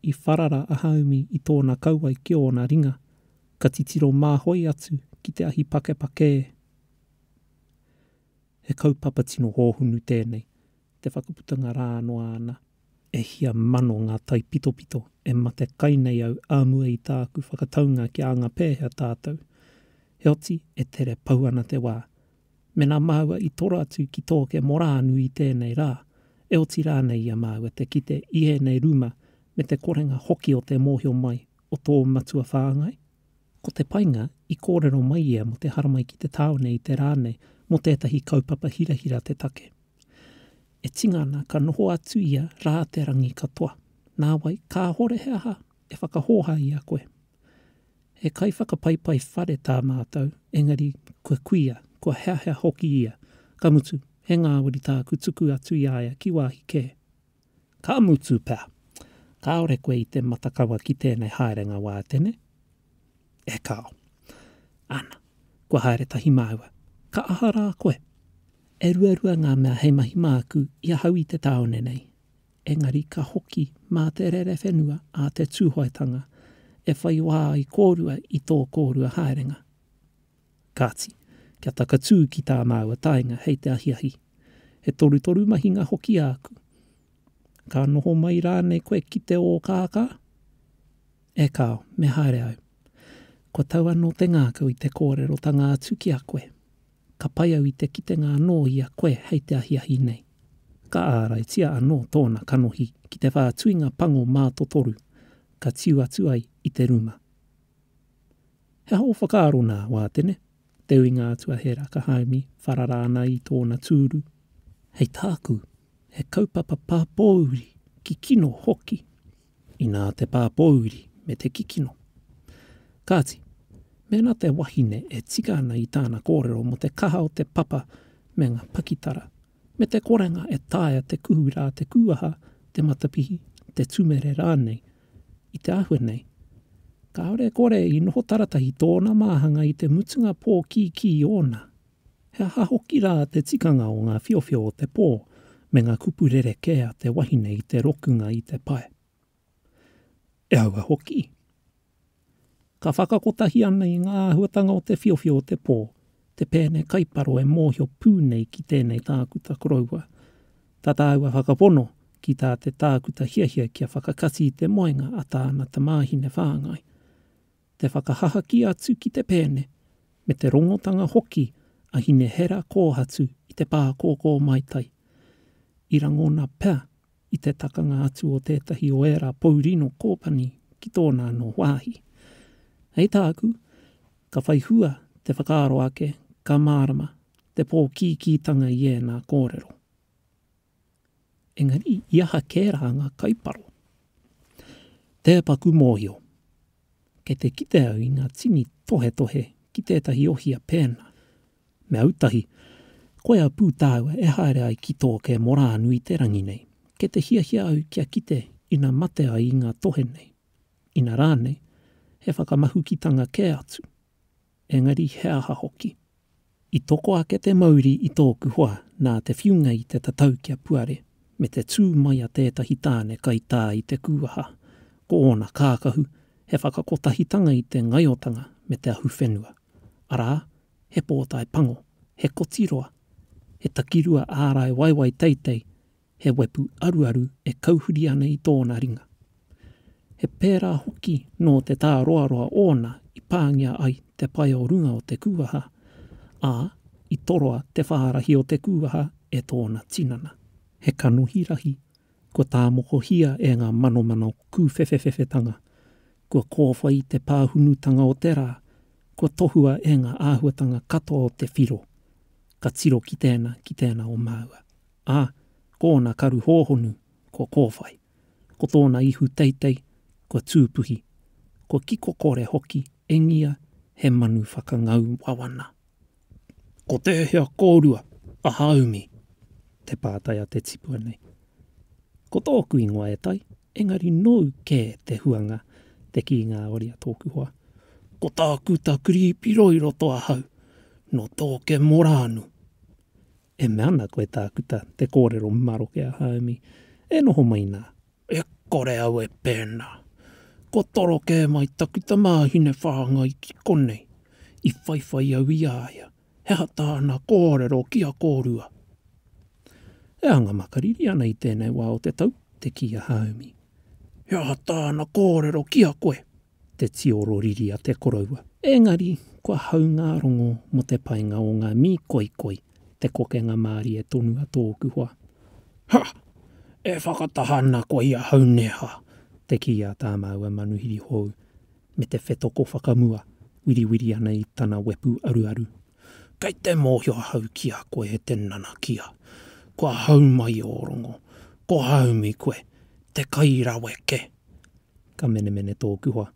i wharara a Hāumi i tōna kauae ki ōna ringa, ka titiro māhoi atu ki te ahi pakepakē. He kaupapa tino hōhonu tēnei, te whakaputanga rā noa ana. E hia mano ngā taipitopito e mate kai nei au ā mua i tāku whakataunga ki a anga pēhea tātou. Heoti, e tere pau ana te wā. Mēnā māua i toro atu ki tōke morānu i tēnei rā, e oti rānei i a māua te kite i ēnei ruma me te korenga hoki o te mōhio mai o tō matua whāngai? Ko te painga, i kōrero mai ia mō te haramai ki te tāone i te rā nei mō tētahi kaupapa hirahira te take. E tinga ana ka noho atu ia rā te rangi katoa, nāwai kāhore he aha e whakahōhā i a koe. He kaiwhakapaipai whare tā mātou, engari kua kuia, kua heahea hoki ia, ka mutu, he ngāwari tāku tuku atu i a ia ki wāhi kē. Ka mutu pea, kāore koe i te matakawa ki tēnei haerenga wā tene? E kāo. Ana, kua haere tahi māua. Ka aha rā koe? E ruarua ngā mea hei mahi māku i ahau i te tāone nei. Engari ka hoki mā te rerewhenua a te Tūhoetanga e whai wā ai kōrua i tō kōrua haerenga. Kāti, kia takatū ki tā māua taenga hei te ahiahi. He torutoru mahinga hoki āku. Ka noho mai rānei koe ki te ōkākā? E kāo, me haere au. Kua tau anō te ngākau i te kōrerotanga atu ki a koe. Ka pai au i te kitenga anō i a koe hei te ahiahi nei. Ka āraitia anō tōna kanohi ki te whātuinga pango mātotoru, ka tiu atu ai i te ruma. He aho whakaaro nā Wātene, te ui ngā atua he rakahaumi, wharara ana i tōna tūru. Hei tāku, he kaupapa pāpōuri, kikino hoki, inā te pāpōuri me te kikino. Kāti, mēnā te wahine e tika ana i tāna kōrero mō te kaha o te papa me ngā pakitara, me te korenga e taea te kuhu rā te kūaha, te matapihi, te tumere rānei. I te āhua nei, kāore e kore i noho taratahi tōna māhanga i te mutunga pō kīkī ōna. He aha hoki rā te tikanga o ngā whiowhio o te pō me ngā kupu rerekē a te wahine i te rokunga i te pae? E aua hoki. Ka whakakotahi ana i ngā āhuatanga o te whiowhio o te pō, te pēne kaiparo e mōhio pū nei ki tēnei tākuta koroua. Tā tāua whakapono ki tā te tākuta hiahia kia whakakati i te moenga a tāna tamāhine whāngai. Te whakahahaki atu ki te pēne, me te rongotanga hoki a Hinehera kōhatu i te pākōkō maitai. I rangona pea i te takanga atu o tētahi o ērā pou rino kōpani ki tōna anō wāhi. Hei tāku, ka whai hua te whakaaro ake ka mārama te pōkīkītanga i ēnā kōrero. Engari, i aha kē rā ngā kaiparo? Tē paku mōhio. Kei te kite au i ngā tini tohetohe ki tētahi ohia pēnā. Me autahi, koe a Pū tāua e haere ai ki tō ke morānu i te rangi nei, kei te hiahia au kia kite ina mate ai i ngā tohe nei, ina rānei, he whakamahukitanga kē atu. Engari he aha hoki? I toko ake te mauri i tōku hoa nā te whiunga i te tatau kia puare, me te tū mai a tētahi tāne kaitā i te kūaha, ko ōna kākahu, he whakakotahitanga i te ngaiotanga me te ahuwhenua. arā, he pōtae pango, he koti roa, he takirua ārai waewae teitei, he wepu aruaru e kauhuri ana i tōna ringa. He pērā hoki nō te tāroaroa ōna i pāngia ai te pae o runga o te kūaha, ā, i toroa te whārahi o te kūaha e tōna tinana. He kanohi rahi, kua tāmokohia e ngā manomano kūwhewhewhewhetanga, Kua kōwhai te pāhunutanga o te rā, kua tohua e ngā āhuatanga katoa o te whiro, ka tiro ki tēnā, ki tēnā o māua. Ā, ko ōna karu hōhonu, kua kōwhai. Ko tōna ihu teitei, kua tūpuhi, kua kiko kore hoki, e ngia, he manu whakangau wawana. Ko te hea kōrua a Hāumi? te pātai a te tipua nei. Ko tōku ingoa e Tai, engari nōu kē te huanga, te kī ngāwari a tōku hoa. Ko tāku ta Kiripi Roi roto ahau, nō Tōkemorānu. E mea ana koe tākuta, te kōrero maroke a Haumi, e noho mai nā. E kore au e pēnā. Kua toro kē mai taku tamāhine whāngai ki konei. I whaiwhai au i a ia, he aha tāna kōrero ki a kōrua? E anga makariri ana i tēnei wā o te tau, te kī a Haumi. He aha tāna kōrero ki a koe? te tioro riri a te koroua. Engari, kua hau ngā rongo mō te painga o ngā mī koikoi, te kokenga mārie tonu a tōku hoa. Ha! E whakataha ana koe i ahau neha! te kī a tā māua manuhiri hou, me te whetoko whakamua wiriwiri ana i tana wepu aruaru. Kei te mōhio ahau ki a koe e te nanakia. Kua hau mai ō rongo. Ko Haumi koe, te kai raweke! Ka menemene tōku hoa.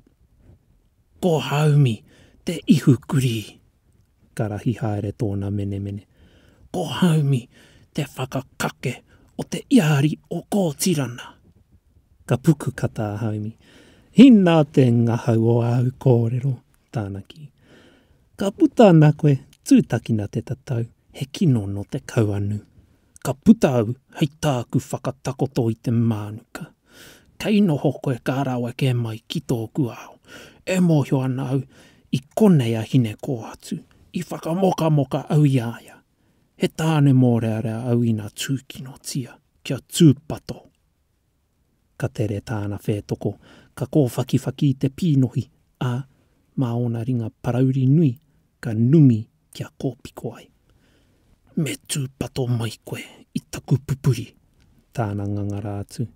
Ko Haumi te ihu kurī! Ka rahi haere tōna menemene. Ko Haumi te whakakake o te iāri o Kōtirana! Ka puku kata a Haumi. Inā te ngahau o āu kōrero, tāna kī. Ka puta ana koe, tūtakina te tatau, he kino nō te kauanu. Ka puta au hei tāku whakatakoto i te mānuka. Kei noho koe ka rawe kē mai ki tōku ao. E mōhio ana au i konei a Hine-kō-atu. I whakamokamoka au i a ia. He tāne mōrearea au ina tūkinotia kia tūpato. Ka tere tāna whētoko, ka kōwhakiwhaki i te pīnohi, ā, mā ōna ringa parauri nui ka numi kia kōpiko ai. Me tūpato mai koe i taku pupuri! tāna ngangara atu,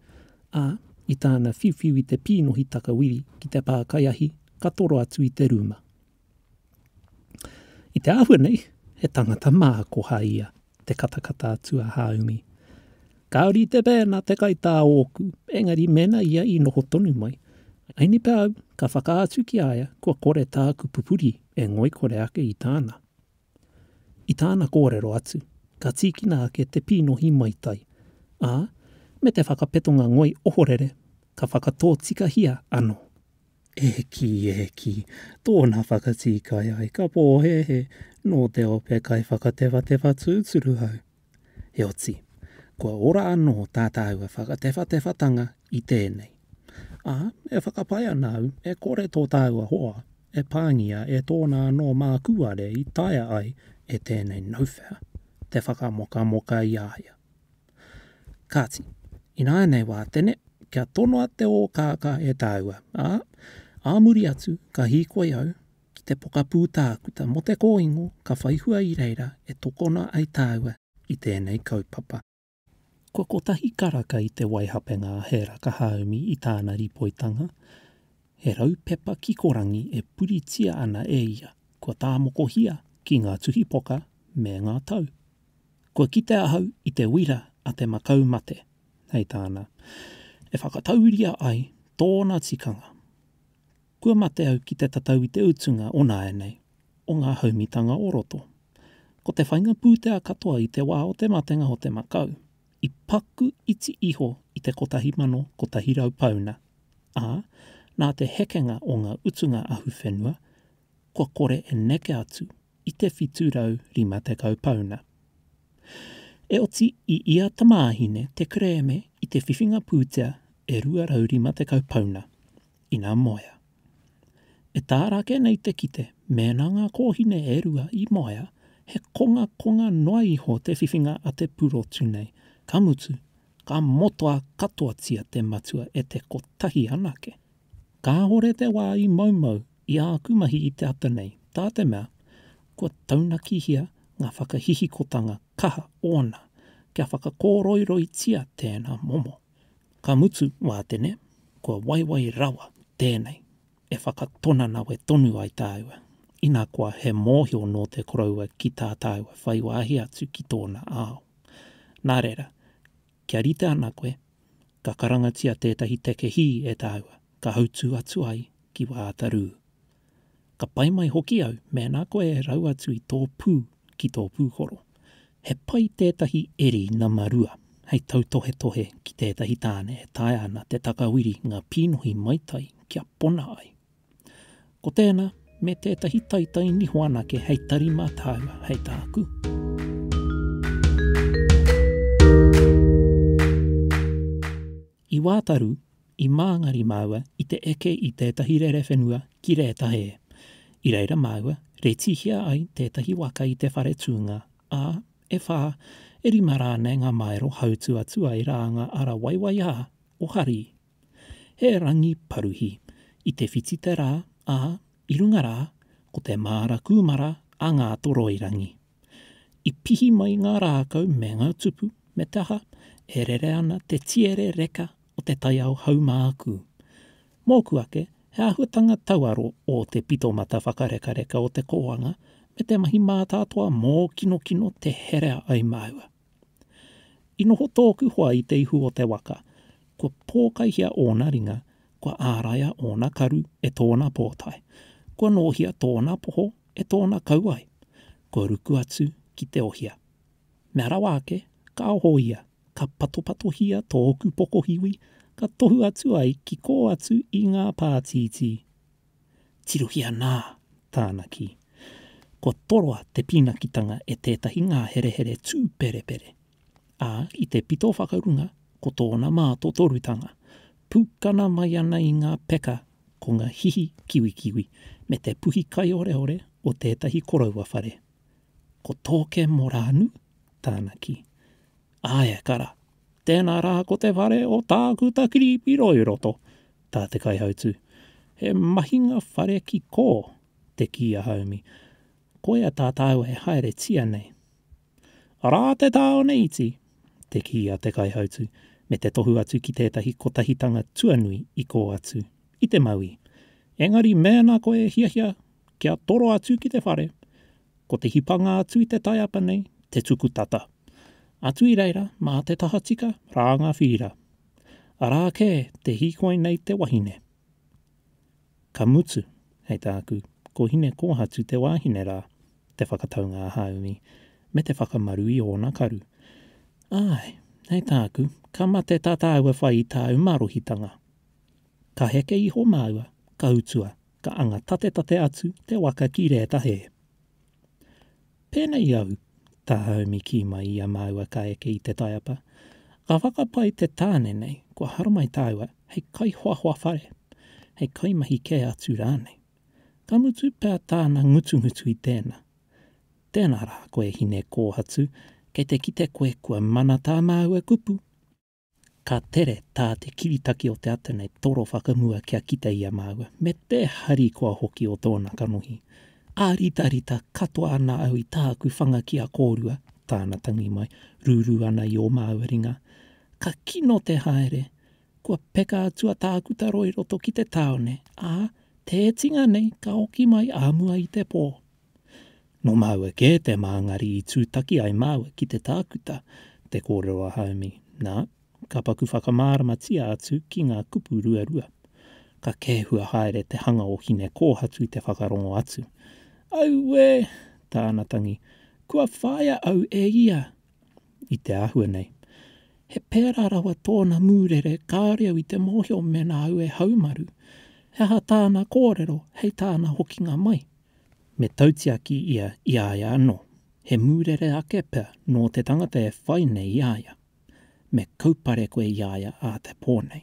ā, i tāna whiuwhiu i te pīnohi takawiri ki te pākaiahi ka toro atu i te rūma. I te āhua nei, he tangata mākoha ia, te katakata atu a Hāumi. Kāore i te mea nā te kaitā ōku, engari mēnā ia i noho tonu mai, ānipe au ka whakaatu ki a ia kua kore tāku pupuri e ngoikore ake i tāna. I tāna kōrero atu, ka tīkina ake te pīnohi maitai, ā, me te whakapetonga ngoi ohorere ka whakatōtikahia anō. E hiki, e hiki, tōna whakatīkai ai, ka pōhēhē, nō te ope kai whakatewhatewha tūturu au. Heoti, kua ora anō tā tāua whakatewhatewhatanga i tēnei. Ā, e whakapae ana au, e kore tō tāua hoa e pāngia e tōna anō mākūare i taea ai e tēnei Nowhere te whakamokamoka i a ia. Kāti, ināianei wā, Tene, kia tonoa te ōkākā e tāua, ā, ā muri atu, ka hīkoi au ki te pokapū tākuta mō te kōingo ka whai hua i reira e tokona ai tāua i tēnei kaupapa. Kua kotahi karaka i te waihapenga a Hera Kahaumi i tāna ripoitanga, he rau pepa kikorangi e puritia ana e ia kua tāmokohia ki ngā tuhipoka me ngā tau Kua kite ahau i te wira a te makau mate, hei tāna, e whakatauiria ai tōna tikanga. Kua mate au ki te tatau i te utunga o nāianei, o ngā haumitanga o roto. Ko te whainga pūtea katoa i te wā o te matenga o te makau, i paku iti iho i te 1,100 pauna, ā, nā te hekenga o ngā utunga ahuwhenua, kua kore e neke atu i te 750 pauna. E oti i ia tamāhine te kerēme i te whiwhinga pūtea e 250 pauna, ina moea. E tā Rake nei te kite mēnā ngā kōhine e rua i moea, he kongakonga noa iho te whiwhinga a te purotu nei, ka mutu, ka motoa katoatia te matua e te kotahi anake. Kāhore te wā i moumou i āku mahi i te ata nei, tā te mea, kua taunakihia ngā whakahihikotanga kaha ōna kia whakakōroiroitia tēnā momo. Ka mutu, Wātene, kua waiwai rawa tēnei e whakatonanawe tonu ai tāua, ina koa he mōhio nō te koroua ki tā tāua whai wāhi atu ki tōna ao. Nā reira, kia rite ana koe ka karangatia tētahi take hī e tāua ka hautū atu ai ki wā ata rū. Ka pai mai hoki au mēnā koe e rau atu i tō pū ki tō pūkoro. He pai tētahi eri nama rua hei tautohetohe ki tētahi tāne e taea ana te takawiri ngā pīnohi maitai kia pona ai. Ko tēnā, me tētahi taitai niho anake hei tari mā tāua, hei tāku. I Wātaru, i Māngari māua i te eke i tētahi rerewhenua ki Rētahē. I reira māua, retihia ai tētahi waka i te whare tūnga, ā, e whā, e rima rānei ngā māero hautu atu ai rā ngā ara waiwaiā o Hari He rangi paruhi. I te whiti te rā, ā, i runga rā, ko te māra kūmara a Ngātoroirangi. I pihi mai ngā rākau me ngā tupu, me te aha, e rere ana te tiere reka o te taiao haumākū. Mōku ake, he āhuatanga tauaro ō te pitomata whakarekareka o te kōanga me te mahi mātātoa mōkinokino te herea ai māua. I noho tōku hoa i te ihu o te waka, kua pōkaihia ōna ringa, kua āraia ōna karu e tōna pōtae, kua nōhia tōna poho e tōna kauae, kua ruku atu ki te ohia. Mea rawa ake, ka oho ia, ka patopatohia tōku pokohiwi, ka tohu atu ai ki kō atu i ngā pātītī. Tirohia nā tāna kī. Kua toroa te pīnakitanga e tētahi ngāherehere tūperepere, ā, i te pito whakarunga ko tōna mātotorutanga, pūkana mai ana i ngā peka ko ngā hihi kiwikiwi me te puhi kaioreore o tētahi koroua whare. Ko Tōke Morānu tāna kī. Āe, ka rā. Tēnā rā ko te whare o Tākuta Kiripiro i roto, tā te kaihautū. He mahinga whare ki kō, te kī a Haumi. Koia tā tāua e haeretia nei. Arā te tāone iti, te kī a te kaihautū, me te tohu atu ki tētahi kotahitanga tuanui i kō atu, i te mauī. Engari mēnā koe e hiahia kia toro atu ki te whare, Ko te hipanga atu i te taiapa nei, te tuku tata. Atu i reira, mā te tahatika, rā ngā whīra. Arā kē te hīkoi nei te wahine. Ka mutu, hei tāku, ko Hinekōhatu te wāhine rā, te whakataunga a Hāumi, me te whakamaru i ōna karu. Āe, hei tāku, ka mate tā tāua whai i tāu marohitanga. Ka heke iho māua, ka utua, ka anga tatetate atu te waka ki rēta hē. Pēnei au, tā Haumi kī mai i a māua ka eke i te taiapa, ka whakapae te tāne nei kua haramai tāua hei kaihoahoa whare, hei kaimahi kē atu rānei. Ka mutu pea tāna ngutungutu i tēnā, Tēnā rā koe hine kōhatu, kei te kite koe kua mana tā māua kupu. Ka tere tā te kiritaki o te ata nei toro whakamua kia kite i a māua, me te harikoa hoki o tōna kanohi. Āritarita katoa ana au i tāku whanga ki a kōrua, tāna tangi mai, rūrū ana i ō māua ringa. Ka kino te haere, kua peka atu a Tākutaro i roto ki te tāone, ā, tētinga nei ka hoki mai ā mua i te pō. Nō māua kē te māngari i tūtaki ai māua ki te tākuta, te kōrero a Haumi, nā, ka paku whakamāramatia atu ki ngā kupu ruarua. Ka kēhua haere te hanga o Hinekōhatu i te whakarongo atu. Auē! tāna tangi, kua whāia au e ia! I te āhua nei. He pērā rawa tōna mūrere kāore au i te mōhio mēnā au e haumaru. He aha tāna kōrero hei tāna hokinga mai? Me tautiaki ia i a ia anō, he mūrere ake pea nō te tangata e whai nei i a ia. Me kaupare koe i a ia ā te pō nei.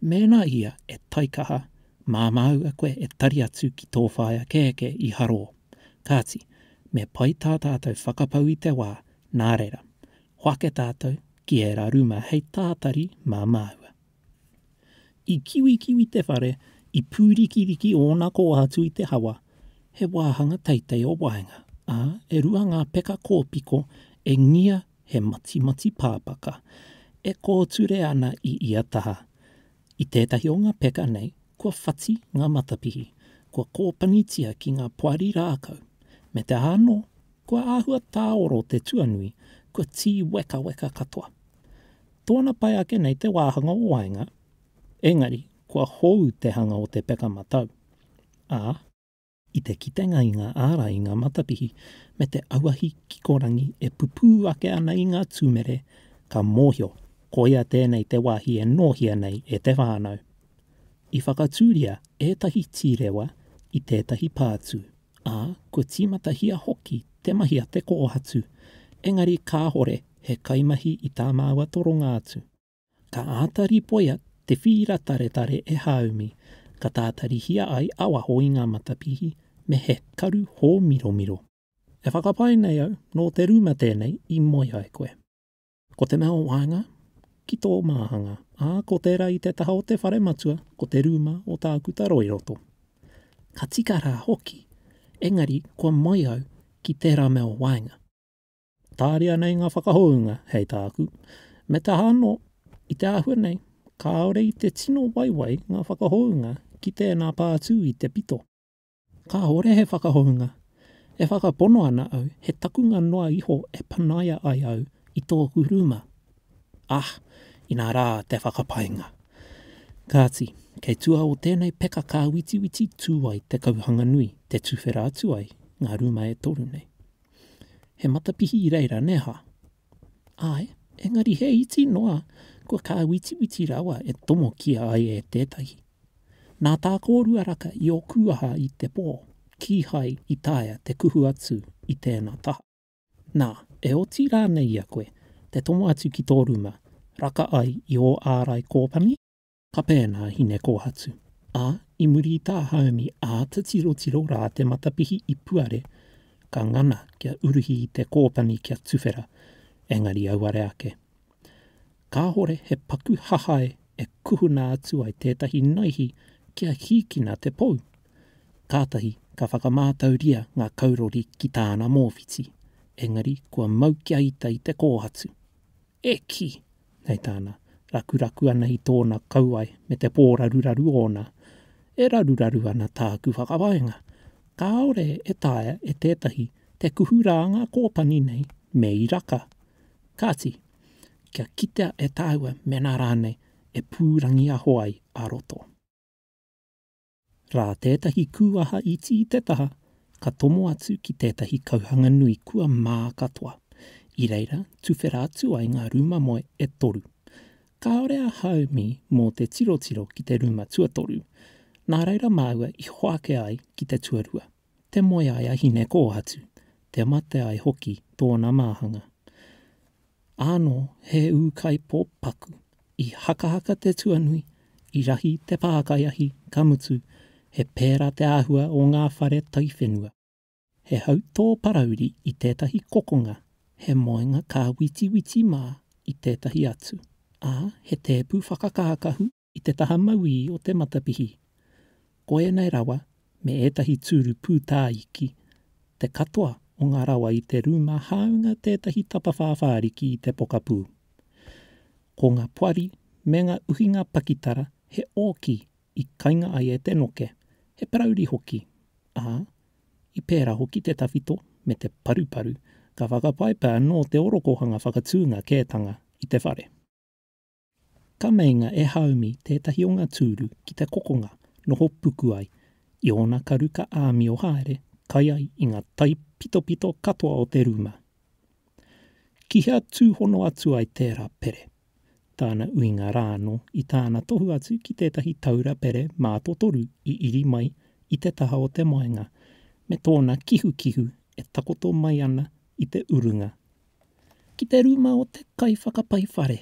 Mēnā ia e taikaha, mā māua koe e tari atu ki tō whaea kēkē i harō. Kāti, me pai tā tātou whakapau i te wā, nā reira, hoake tātou ki ērā ruma hei tātari mā māua. I kiwikiwi te whare, i pūrikiriki ōna koa atu i te hawa, he wāhanga teitei o waenga, ā, e rua ngā peka kōpiko e ngia he matimati pāpaka, e kōture ana i ia taha. I tētahi o ngā peka nei, kua whati ngā matapihi, kua kōpanitia ki ngā poari rākau, me te aha anō, kua āhua tāoro te tuanui, kua tīwekaweka katoa. Tōna pai ake nei te wāhanga o waenga, engari kua hou te hanga o te peka matau, ā, i te kitenga i ngā ārai i ngā matapihi me te auahi kikorangi e pupū ake ana i ngā tūmere, ka mōhio, koia tēnei te wāhi e nōhia nei e te whānau. I whakatūria ētahi tīrewa i tētahi pātū. ā, kua tīmatahia hoki te mahi a te kōhatu, engari kāhore he kaimahi i tā māua toronga atu. Ka āta ripoia te whīra taretare e Hāumi, ka tātarihia ai a waho i ngā matapihi me he karu hōmiromiro. E whakapae nei au, nō te rūma tēnei i moe ai koe. Ko te mea o waenga, ki tō māhanga, ā, ko tērā i te taha o te whare matua, ko te rūma o Tākuta Roiroto. Ka tika rā hoki, engari kua moe au ki tērā mea o waenga. Tāria nei ngā whakahounga, hei tāku, me te aha anō, i te āhua nei, kāore i te tino waiwai ngā whakahounga ki tēnā pātū i te pito. Kāhore he whakahounga. E whakapono ana au he takunga noa iho e panaia ai au i tōku rūma. Ah, inā rā te whakapainga. Kāti, kei tua o tēnei peka kāwitiwiti tū ai te kauhanga nui, te tuwhera atu ai ngā rūma e toru nei. He matapihi i reira, nē hā? Āe, engari he iti noa kua kāwitiwiti rawa e tomokia ai e tētahi. Nā tā kōrua raka i ō kūaha i te pō, kīhai i taea te kuhu atu i tēnā taha. Nā, e oti rānei i a koe te tomo atu ki tō ruma, raka ai i ō ārai kōpani? ka pēnā a Hinekōhatu, ā, i muri i tā Haumi āta tirotiro rā te matapihi i puare, ka ngana kia uruhi i te kōpani kia tuwhera, engari auare ake. Kāhore he paku hahae e kuhuna atu ai tētahi naihi kia hīkina te pou. Kātahi ka whakamātauria ngā kaurori ki tāna mōwhiti, engari kua mau kia ita i te kōhatu. E kī! Hei tāna, Rakuraku ana i tōna kauae me te pōraruraru ōna, e raruraru ana tāku whakawaenga. Kāore e taea e tētahi te kuhu rā ngā kōtani nei me i raka. Kāti, kia kitea e tāua mēnā rānei e pūrangiaho ai a roto. rā tētahi kūaha iti i te taha ka tomo atu ki tētahi kauhanga nui kua mā katoa, i reira tuwhera atu ai ngā rūma moe e toru. Kāore a Haumi mō te tirotiro ki te rūma tuatoru, nā reira māua i hoake ai ki te tuarua. Te moe ai a Hine-kōhatu, te mate ai hoki tōna māhanga. Ānō he ūkaipō paku, i hakahaka te tuanui, i rahi te pākaiahi, ka mutu, he pērā te āhua o ngā whare taiwhenua. He hautō parauri i tētahi kokonga, he moenga kāwitiwiti mā i tētahi atu, ā, he tēpu whakakākahu i te taha mauī o te matapihi. Ko ēnei rawa me ētahi tūru pūtāiki te katoa o ngā rawa i te rūma hāunga tētahi tapawhā whāriki i te pokapū. Ko ngā poari me ngā uhinga pakitara he ōki i kainga ai e te noke, he parauri hoki, ā, i pērā hoki te tawhito me te paruparu, ka whakapaepae anō te orokohanga whakatūnga kētanga i te whare. Ka meinga e Haumi tētahi o ngā tūru ki te kokonga noho puku ai i ōna karu ka āmio haere kai ai i ngā taipitopito katoa o te rūma. Ki hea tūhono atu ai tērā pere? Tāna uinga rā anō i tāna tohu atu ki tētahi taura pere mātotoru i iri mai i te taha o te moenga me tōna kihukihu e takoto mai ana i te urunga Ki te rūma o te kaiwhakapai whare.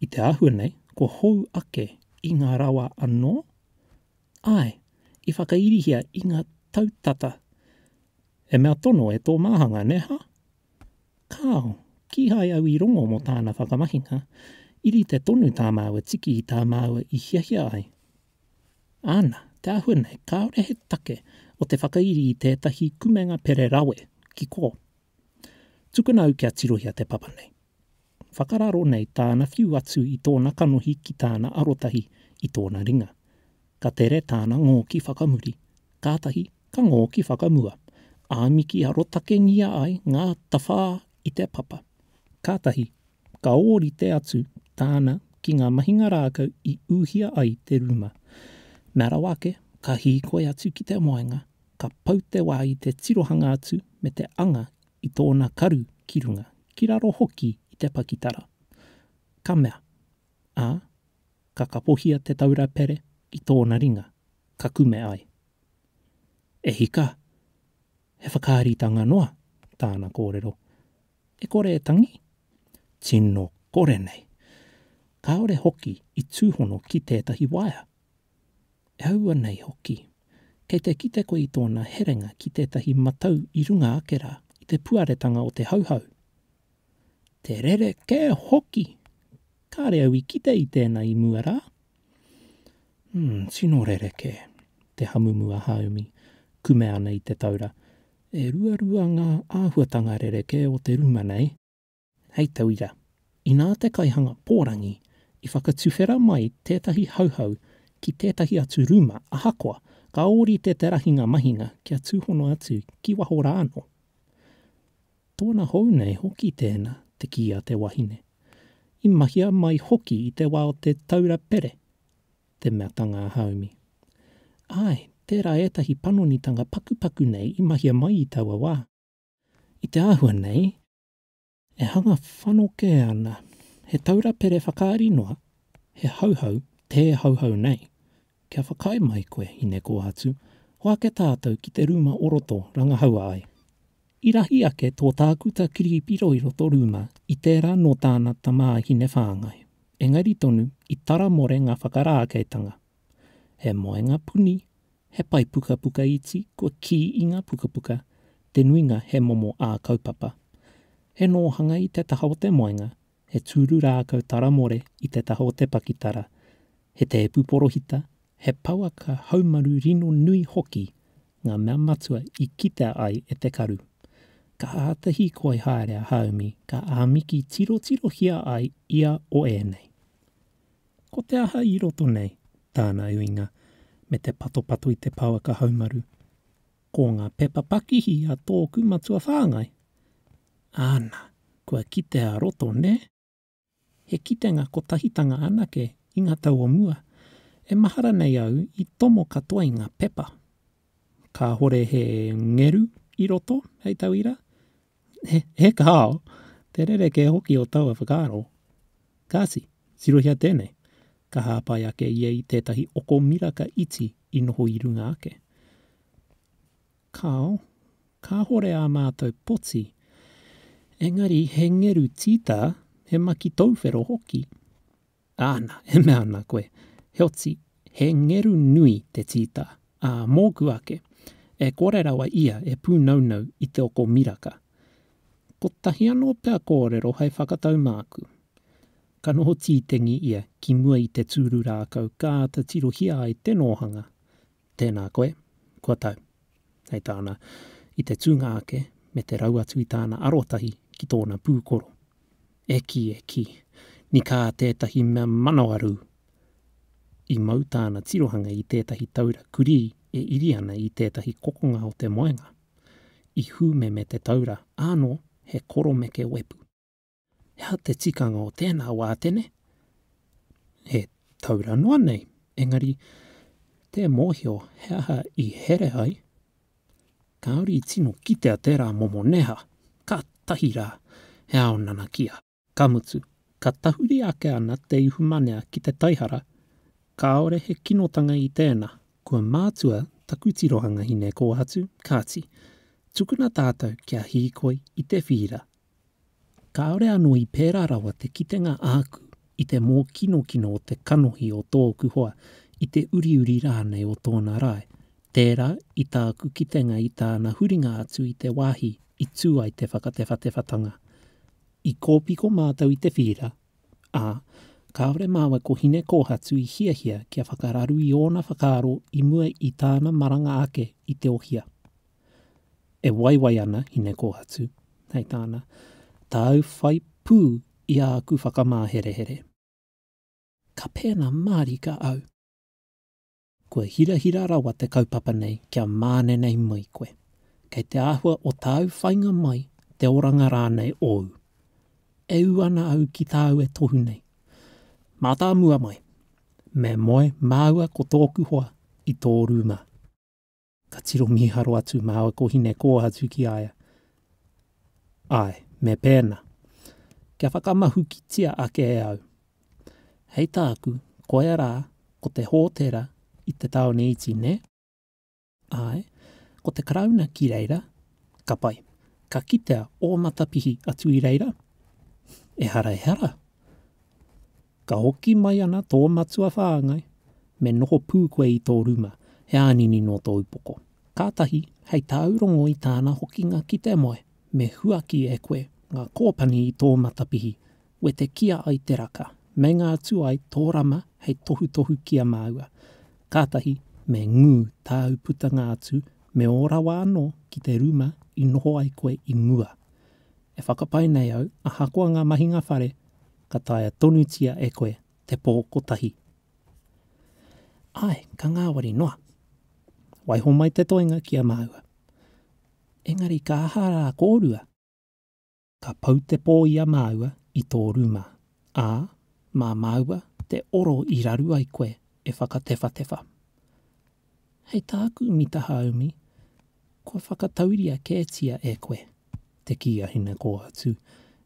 I te āhua nei, kua hou ake i ngā rawa anō, āe, i whakairihia i ngā tau tata. He mea tono e tō māhanga, nē hā? Kāo, kīhai au i rongo mō tāna whakamahinga, i rite tonu tā māua tiki i tā māua i hiahia ai. Āna, te āhua nei, kāore he take o te whakairi i tētahi kumenga pere rawe, ki kō. Tukuna au kia tirohia te papa nei. Whakararo nei tāna whiu atu i tōna kanohi ki tāna arotahi i tōna ringa. Ka tere tāna ngōki whakamuri, kātahi ka ngōki whakamua, āmiki arotakengia ai ngā tawhā i te papa. Kātahi ka ōrite atu tāna ki ngā mahinga rākau i ūhia ai te rūma. Mea rawa ake, ka hīkoi atu ki te waenga, Ka pau te wā i te tirohanga atu me te anga i tōna karu ki runga, ki raro hoki i te pakitara. Ka mea, ā, ka kapohia te taura pere i tōna ringa, ka kume ai. E hika! He whakaaritanga noa tāna kōrero. E kore e tangi? Tino kore nei! Kāore hoki i tūhono ki tētahi waea. E aua nei hoki, kei te kite koe i tōna herenga ki tētahi matau i runga ake rā, i te puaretanga o te Hauhau. Te rerekē hoki! Kāre au i kite i tēnā i mua rā. Umm, tino rerekē, te hamumu a Haumi, kume ana i te taura. E ruarua ngā āhuatanga rerekē o te ruma nei. Hei tauira, inā te kaihanga pōrangi i whakatuwhera mai tētahi Hauhau ki tētahi atu rūma ahakoa ka ōrite te rahinga mahinga kia tūhono atu ki waho rā anō. Tōna hou nei hoki tēnā, te kī a te wahine. I mahia mai hoki i te wā o te taura pere, te mea tangā haumi. Āe, tērā ētahi panonitanga pakupaku nei i mahia mai i taua wā. I te āhua nei, E hanga whanokē ana he taura pere whakaari noa, he hauhau tē hauhau nei. Kia whakaae mai koe, Hinekōhatu, hoa ake tātou ki te rūma o roto rangahaua ai. I rahi ake tō tākuta kiripiro i roto rūma i tērā nō tāna tamā Hinewhāngai. Engari tonu i taramore ngā whakarākeitanga, He moenga puni, he pae pukapuka iti kua kī i ngā pukapuka, te nuinga he momo ā-kaupapa. He nōhanga i te taha o te moenga, he tūru rākau taramore i te taha o te pakitara, he tēpu porohita, he pouaka haumaru rino nui hoki ngā mea matua i kitea ai e te karu. Ka āta hīkoi haere a Haumi ka āmiki tirotirohia ai ia o ēnei. Ko te aha i roto nei? Tāna uinga, me te patopato i te pouaka haumaru, Ko ngā pepa pakihi a tōku matua whāngai. Āna, kua kitea roto, nē? He kitenga kotahitanga anake i ngā tau o mua, e mahara nei au i tomo katoa i ngā pepa. Kāhore he ngeru i roto, hei tauira, He kāo, te rerekē hoki o taua whakaaro. Kāti, tirohia tēnei, ka hāpai ake ia i tētahi oko miraka iti i noho i runga ake. Kāo, kāhore ā mātou poti, engari he ngeru tītā, he maki tauwhero hoki. Āna, e mea ana koe, Heoti, he ngeru nui te tītā, ā, mōku ake, e kore rawa ia e pūnaunau i te oko miraka. Kotahi anō pea kōrero hai whakatau māku. Ka noho tītengi ia ki mua i te tūru rākau ka āta tirohia ai te nōhanga. Tēnā koe, kua tau. Hei tāna, I te tūnga ake, me te rau atu i tāna arotahi ki tōna pūkoro. E kī, e kī! Ni kā tētahi mea manawarū! I mau tāna tirohanga i tētahi taura kurī e iri ana i tētahi kokonga o te moenga. I hūmeme te taura, ānō he koromeke wepu. He aha te tikanga o tēnā wātene? He taura noa nei, engari tē mōhio he aha i here ai, kāore i tino kitea tērā momo neha, kātahi rā, he ao nanakia. Ka mutu, ka tahuri ake ana te ihumanea ki te taihara, kāore he kinotanga i tēnā, kua mātua taku tirohanga hine kōhatu, kāti, tukuna tātou kia hīkoi i te whīra, Kāore anō i pērā rawa te kitenga āku i te mōkinokino o te kanohi o tōku hoa, i te uriuri rānei o tōna rae. Tērā i tāku kitenga i tāna huringa atu i te wāhi i tū ai te whakatewhatewhatanga. I kōpiko mātou i te whīra, ā, kāore māua ko Hine-kōhatu i hiahia kia whakararu i ōna whakaaro i mua i tāna maranga ake i Te Ohia. e waiwai ana i Nekōhatu, hei tāna, Tāu whai pū i āku whakamāherehere. Ka pēnā mārika au. Kua hirahira rawa te kaupapa nei kia mānenei mai koe. Kei te āhua o tāu whainga mai te oranga rānei ōu. E ū ana au ki tāu e tohu nei. Mātāmua mai! Me moe māua ko tōku hoa i tō rūma. Ka tiro mīharo atu māua ko Hine-kōhatu ki a ia. Āe, me pēnā. Kia whakamahukitia ake e au. Hei tāku, koia rā, ko te hōtera i te tāone iti, nē? Āe, ko te Karauna ki reira. Ka pai. Ka kitea ō matapihi atu i reira? Ehara, ehara. Ka hoki mai ana tō matua whāngai, me noho pū koe i tō rūma, he ānini nō tō upoko. Kātahi, hei tāu rongo i tāna hokinga ki te moe, me huaki e koe ngā kōpani i tō matapihi, wetekia ai te raka, meinga atu ai tō rama hei tohutohu ki a māua. Kātahi, me ngū tāu putanga atu me ō rawa anō ki te rūma i noho ai koe i mua. E whakapae nei au, ahakoa ngā mahinga whare, ka taea tonutia e koe te pō kotahi. Āe, ka ngāwari noa. Waiho mai te toenga ki a māua. Engari ka aha rā kōrua? Ka pau te pō i a māua i tō rūma, ā, mā māua te oro i raru ai koe e whakatewhatewha. Hei tāku mita haumi, kua whakatauria kētia e koe te kī a Hinekōhatu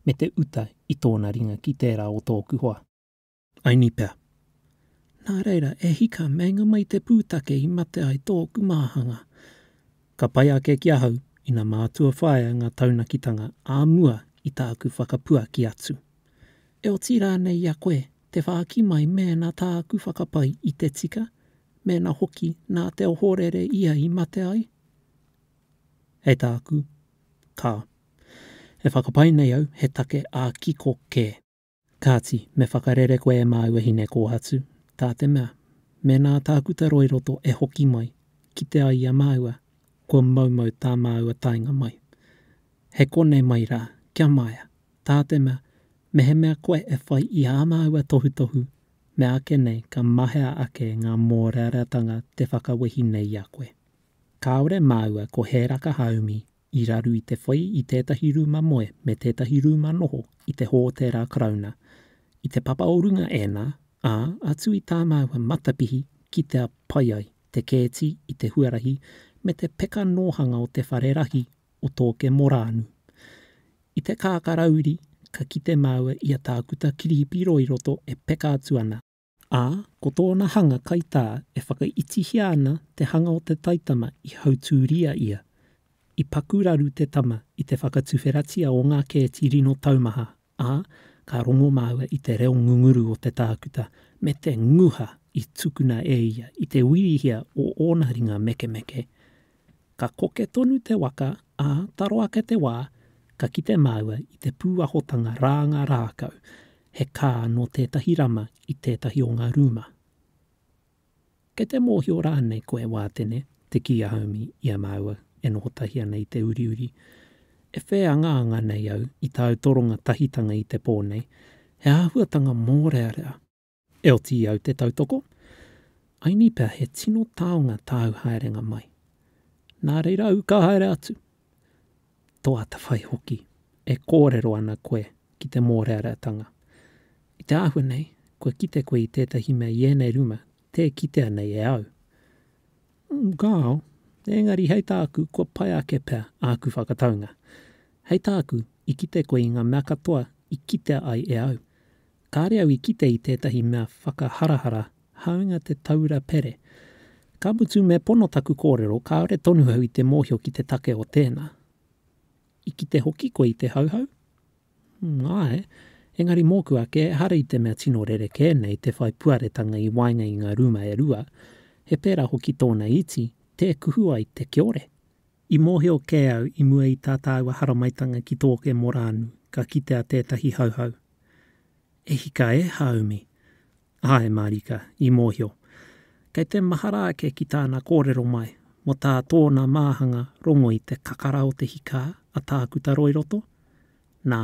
me te uta i tōna ringa ki tērā o tōku hoa. Aini pea. Nā reira, e hika, meinga mai te pūtake i mate ai tōku māhanga. Ka pai ake ki ahau ina mātua whāia ngā taunakitanga ā mua i tāku whakapuaki atu. E oti rānei i a koe te whāki mai mēnā tāku whakapai i te tika Mēnā hoki nā te ohorere ia i mate ai? Hei tāku, Ka. E whakapae nei au he take ā-kiko kē. Kāti, me whakarere koe e māua hinekōhatu, tā te mea, mēnā a Tākuta Roiroto e hoki mai, kite ai i a māua, kua moumou tā māua taenga mai. He konei mai rā, kia maea, tā te mea, mehemea koe e whai i ā māua tohutohu Meāke nei ka mahea ake ngā mōreareatanga te whakawehi nei i a koe. Kāore māua ko Hēraka Haumi i raru i te whai i tētahi rūma moe me tētahi rūma noho i te Hōtēra Karauna. I te papa o runga ēnā, ā, atu i tā māua matapihi kitea pai ai te kēti i te huarahi me te peka nōhanga o te whare rahi o Tōke Morānu. I te kākarauri ka kite māua i a Tākuta Kirihipi Roiroto e peka atu ana, ā, ko tōna hanga kaitā e whakaitihia ana te hanga o te taitama i hautūria ia. I paku raru te tama i te whakatuwheratia o ngā kēti rino taumaha ā, ka rongo māua i te reo ngunguru o te tākuta me te nguha i tukuna e ia i te wīrihia o ōna ringa mekemeke. Ka koke tonu te waka, ā, taro ake te wā, ka kite māua i te pūahotanga rānga rākau, he kā nō tētahi rama i tētahi o ngā rūma. Kei te mōhio rānei koe Wātene te kī a Haumi i a māua e noho tahi ana i te uriuri? E whē angaanga nei au i tāu toronga tahitanga i te pō nei, he āhuatanga mōrearea. E oti i au te tautoko, aini pea he tino taonga tāu haerenga mai. Nā reira au ka haere atu. tō atawhai hoki e kōrero ana koe ki te mōreareatanga. I te āhua nei, kua kite koe i tētahi mea i ēnei ruma tē kitea nei e au. Gao, Engari hei tāku, kua pai ake pea āku whakataunga. Hei tāku, i kite koe i ngā mea katoa i kitea ai e au. Kāre au i kite i tētahi mea whakaharahara hāunga te taura pere. Ka mutu me pono taku kōrero kāore tonu au i te mōhio ki te take o tēnā. I kite hoki koe i te Hauhau? Umm, āe. Engari mōku ake ehara i te mea tino rerekē nei te whai puaretanga i waenga i ngā rūma e rua, he pērā hoki tōna iti, tē kuhu ai te kiore. I mōhio kē au i mua i tā tāua haramaitanga ki tōke Morānu ka kitea tētahi Hauhau. E hika e, Hāumi? Āe, mārika, i mōhio. Kei te mahara ake ki tāna kōrero mai, mō tā tōna māhanga rongo i te kakara o te hikā a Tākuta Roiroto? Nā,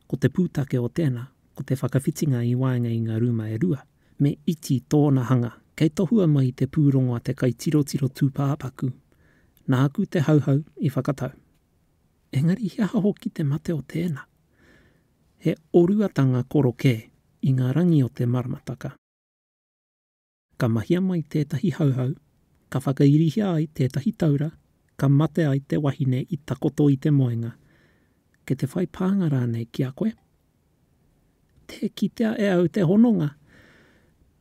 ko te pūtake o tēnā, ko te whakawhitinga i waenga i ngā rūma e rua. me iti tōna hanga kei tohua mai i te pūrongo a te kaitirotiro tūpāpaku, nāku te Hauhau i whakatau. Engari he aha hoki te mate o tēnā? He oruatanga koro kē i ngā rangi o te maramataka. Ka mahia mai tētahi Hauhau, ka whakairihia ai tētahi taura, ka mate ai te wahine i takoto i te moenga, kei te whai pānga rānei ki a koe? Tē kitea e au te hononga.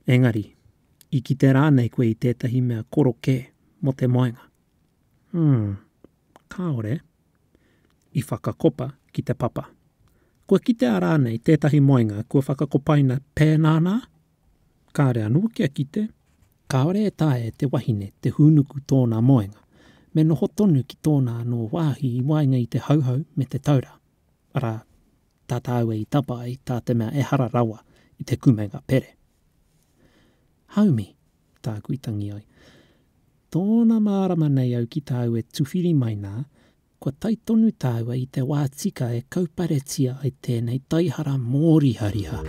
Engari, i kite rānei koe i tētahi mea koro kē mō te moenga? Umm, kāore. I whakakopa ki te papa. Kua kitea rānei tētahi moenga kua whakakopaina pēnā nā? Kāore anō kia kite. Kāore e taea e te wahine te hūnuku tōna moenga, me noho tonu ki tōna anō wāhi i waenga i te Hauhau me te Taura. Arā, tā tāua i tapa ai, tā te mea ehara rawa i te kumenga pere. Haumi, tāku i tangi ai. Tōna mārama nei au ki tāu e tuwhiri mai nā, kua tae tonu tāua i te wā tika e kauparetia ai tēnei taihara mōrihariha.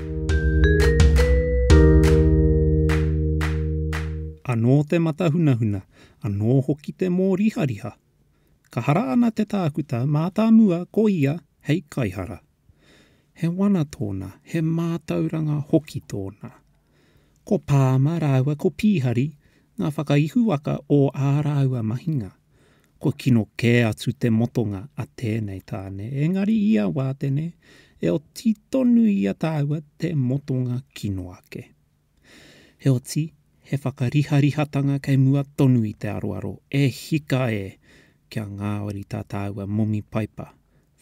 Anō te matahunahuna, anō hoki te mōrihariha. Ka hara ana te tākuta mātāmua ko ia hei kaihara. He wana tōna, he mātauranga hoki tōna. Ko Palmer rāua ko Pīhari ngā whakaihuwaka o ā rāua mahinga. Kua kino kē atu te motonga a tēnei tāne, engari i a Wātene, e oti tonu i a tāua te motonga kino ake. Heoti, he whakariharihatanga kei mua tonu i te aroaro, e hika e! kia ngāwari tā tāua momi paipa,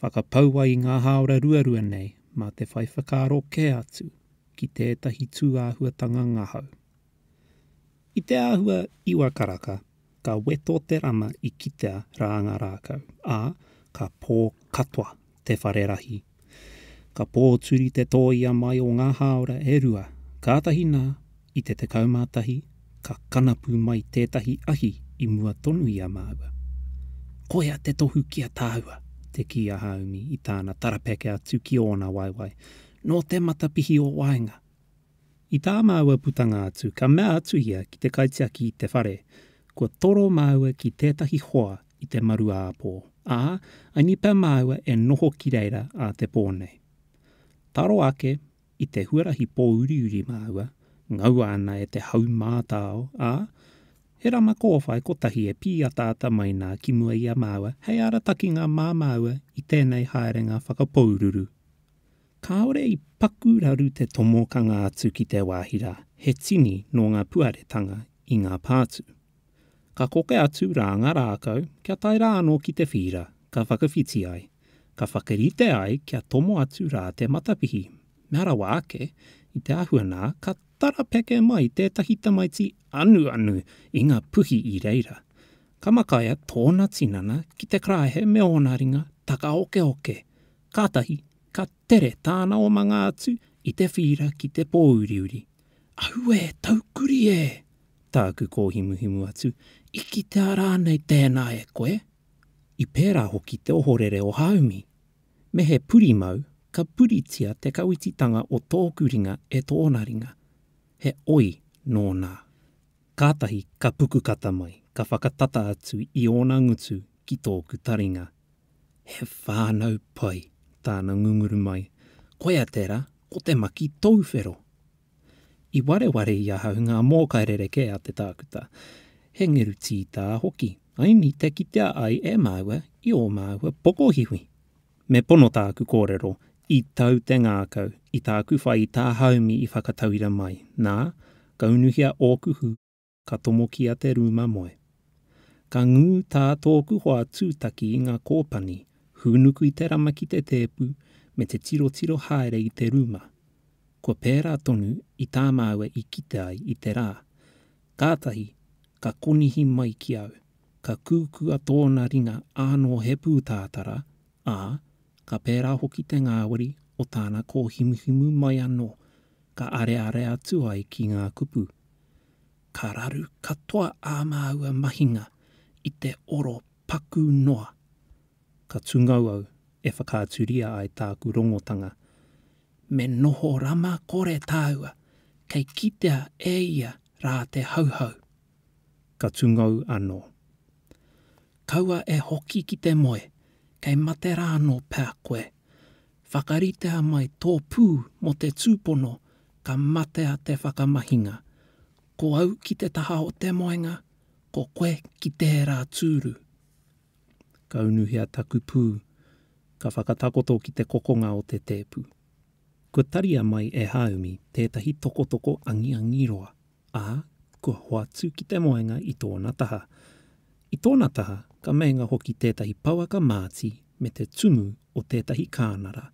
whakapau ai i ngā hāora ruarua nei mā te whai whakaaro kē atu ki tētahi tūāhuatanga ngahau. I te āhua iwa karaka, Ka weto te rama i kitea rā ngā rākau, ā, ka pō katoa te whare rahi. Ka pōturi te tōia mai o ngā hāora e rua, kātahi nā, i te 11, ka kanapu mai tētahi ahi i mua tonu i a māua. Koia te tohu ki a tāua, te kī a Hāumi i tāna tarapeke atu ki ōna waewae, nō te matapihi o waenga. I tā māua putanga atu, ka mea atu ia ki te kaitiaki i te whare, kua toro māua ki tētahi hoa i te maru-ā-pō, ā, angi pea māua e noho ki reira ā te pō nei. Taro ake, i te huarahi pōuriuri māua, ngaua ana e te hau mātao, ā, he rama kōwhai kotahi e pīataata mai nā ki mua i a māua hei aratakinga mā māua i tēnei haerenga whakapōururu. Kāore i paku raru te tomokanga atu ki te wāhi rā, he tini nō ngā puaretanga i ngā pātū. Ka koke atu rā ngā rākau kia tae rā anō ki te whīra, ka whakawhiti ai, ka whakarite ai kia tomo atu rā te matapihi, mea rawa ake, i te āhua nā, ka tarapeke mai tētahi tamaiti anuanu i ngā puhi i reira. Ka makaia tōna tinana ki te karaehe me ōna ringa takaokeoke, Kātahi ka tere tāna omanga atu i te whīra ki te pōuriuri. Ahu e, taukuri e! tāku kōhimuhimu atu, i kitea rānei tēnā e koe? I pērā hoki te ohorere o Hāumi. Me he purimau, ka puritia te kawititanga o tōku ringa e tōna ringa. He oi nō nā. Kātahi ka pukukata mai, ka whakatata atu i ōna ngutu ki tōku taringa. He whānau pai tāna ngunguru mai, koia tērā ko te maki tōwhero. I wareware i ahau ngā mōkai rerekē a te tākuta, he ngeru tītā hoki, aini te kitea ai e māua i ō māua pokohiwi. Me pono tāku kōrero i tau te ngākau i tāku whai tā haumi i whakatauira mai, nā, kaunuhia ōku hū. ka tomokia te rūma moe. Ka ngū tā tōku hoa tūtaki i ngā kōpani, hūnuku i te rama ki te tēpu me te tirotiro haere i te rūma. Kua pērā tonu i tā māua i kite ai i te rā. Kātahi, ka konihi mai ki au, ka kūkua tōna ringa ānō he pūtātara, ā, ka pērā hoki te ngāwari o tāna kōhimuhimu mai anō. ka areare atu ai ki ngā kupu, ka raru katoa ā māua mahinga i te oro pakū noa. Ka tungou au e whakaaturia ai tāku rongotanga, me noho rama kore tāua kei kitea e ia rā te Hauhau. ka tungou anō. Kaua e hoki ki te moe, kei mate rā anō pea koe. Whakaritea mai tō pū mō te tūpono ka matea te whakamahinga. Ko au ki te taha o te moenga, ko koe ki tērā tūru. Ka unuhia taku pū, ka whakatakoto ki te kokonga o te tēpu. Kua taria mai e Hāumi tētahi tokotoko angiangi roa. ā, kua hoatu ki te moenga i tōna taha. I tōna taha, ka meinga hoki tētahi pouaka māti me te tumu o tētahi kānara.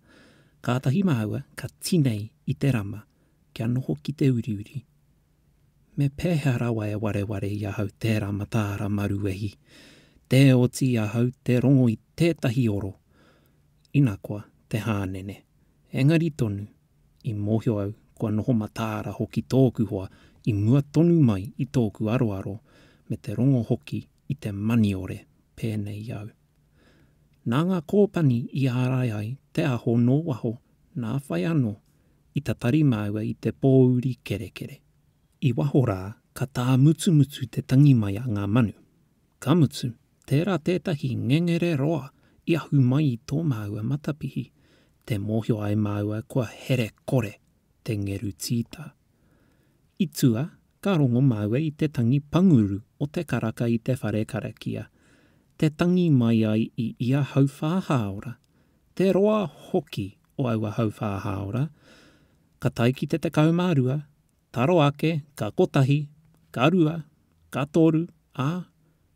Kātahi māua ka tinei i te rama, kia noho ki te uriuri. Me pēhea rawa e wareware i ahau tērā mataara maruwehi? Tē oti i ahau te rongo i tētahi oro. Ina koa, te hānene. Engari tonu, I mōhio au, kua noho mataara hoki tōku hoa i mua tonu mai i tōku aroaro me te rongo hoki i te maniore pēnei i au. Nā ngā kōpani i ārai ai te aho nō waho nā whai anō i tatari māua i te pōuri kerekere. I waho rā ka tāmutumutu te tangi mai a ngā manu. Ka mutu, tērā tētahi ngengere roa i ahu mai i tō māua matapihi, tē mōhio ai māua kua here kore te ngeru tīta. I tua, ka rongo māua i te tangi panguru o te karaka i te whare karakia, te tangi mai ai i ia hauwhā hāora, te roa hoki o aua hauwhā hāora, ka tae ki te 12, Ka roa ake, ka kotahi, ka rua, ka toru, ā,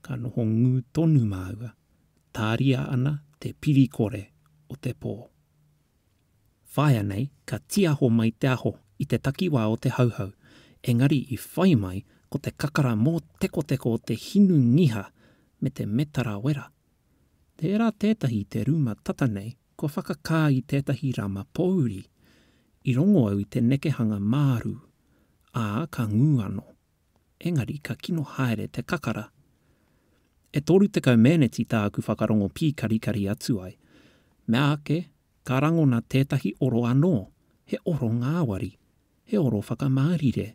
ka noho ngū tonu māua, tāria ana te piri kore o te pō. Whāia nei, ka tīaho mai te aho i te takiwā o te Hauhau, engari i whai mai ko te kakara mōtekoteko o te hinu ngiha me te metara wera. Tērā tētahi te rūma tata nei kua whakakā i tētahi rama pōuri, i rongo au i te nekehanga māru, ā, ka ngū anō. Engari ka kino haere te kakara. E 30 meneti tāku whakarongo pīkarikari atu ai. Meāke, ka rangona tētahi oro anō, he oro ngāwari, he oro whakamārire.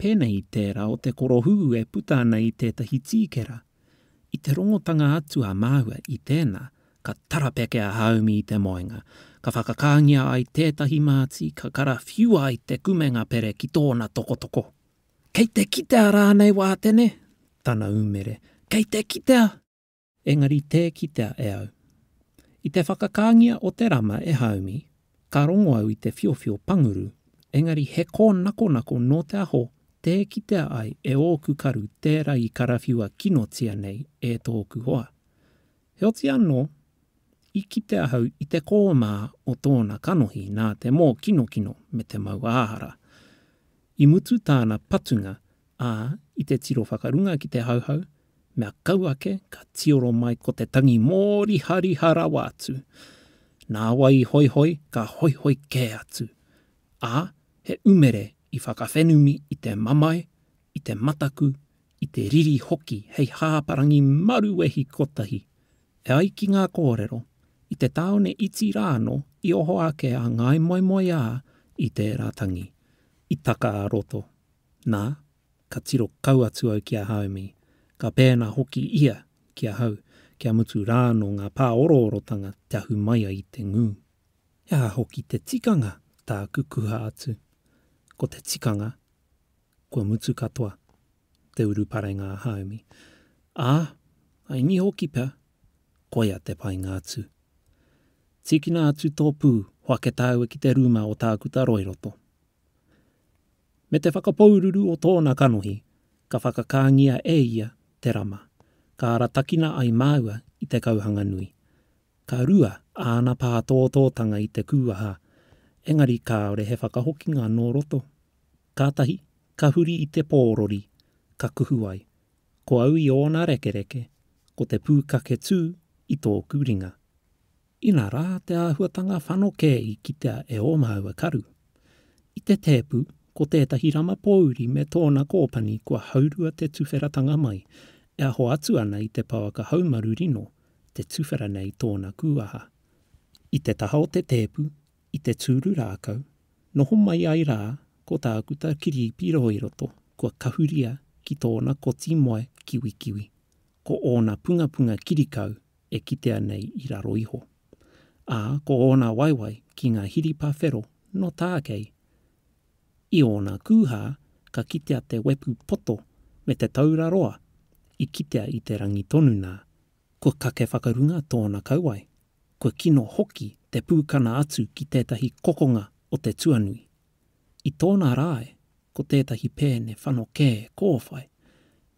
Pēnei i tērā o te korohūhū e puta ana i tētahi tīkera. I te rongotanga atu a māua i tēnā, ka tarapeke a Haumi i te moenga, ka whakakāngia ai tētahi māti, ka karawhiua ai te kumenga pere ki tōna tokotoko. Kei te kitea rānei Wātene? tana umere. Kei te kitea! Engari tē kitea e au. I te whakakāngia o te rama e Haumi, ka rongo au i te whiowhio panguru, engari he kōnakonako nō te aho tē kitea ai e ōku karu tērā i karawhiua kinotia nei e tōku hoa. Heoti anō, i kite ahau i te kōmā o tōna kanohi nā te mōkinokino me te mauāhara. I mutu tāna patunga Ā, i te tiro whakarunga ki te Hauhau, mea kau ake ka tioro mai ko te tangi mōrihariha rawa atu. Nāwai i hoihoi ka hoihoi kē atu. Ā, he umere i whakawhenumi i te mamae, i te mataku, i te riri hoki hei hāparangi maruwehi kotahi. E ai ki ngā kōrero, i te tāone iti rānō i oho ake a Ngāi Moemoeā i tērā tangi, i taka ā-roto. Nā, ka tiro kau atu au ki a Haumi, ka pēnā hoki ia ki ahau, kia mutu rā anō ngā pāoroorotanga te ahu mai ai i te ngū. He aha hoki te tikanga tāku kuha atu? Ko te tikanga, kua mutu katoa te uruparenga a Haumi. Ā, I ngi hoki pea, koia te painga atu. Tīkina atu tō pū, hoake tāua ki te rūma o Tākuta Roiroto. Me te whakapoururu o tōna kanohi, ka whakakāngia e ia te rama, ka aratakina ai māua i te kauhanga nui. Ka rua āna pātōtōtanga i te kūaha, engari kāore he whakahokinga nō roto. Kātahi ka huri i te pōrori, ka kuhu ai, Ko au i ōna rekereke, ko te pūkaketū i tōku ringa. Inā rā te āhuatanga whanokē i kitea e ō māua karu. I te tēpu, ko tētahi rama pōuri me tōna kōpani kua haurua te tuwheratanga mai, e aho atu ana i te pouaka haumaru rino, te tuwhera nei tōna kūaha. I te taha o te tēpu, i te tūru rākau, noho mai ai rā ko Tākuta Kirīpi Rōiroto kua kahuria ki tōna koti moe kiwikiwi, ko ōna pungapunga kirikau e kitea nei i raro iho. Ā, ko ōna waewae ki ngā hiripa whero nō tākei. I ōna kūhā ka kitea te wepu poto me te taura roa i kitea i te rangi tonu nā, kua kake whakarunga tōna kauae, kua kino hoki te pūkana atu ki tētahi kokonga o te tuanui. I tōna rae ko tētahi pēne whanokē kōwhai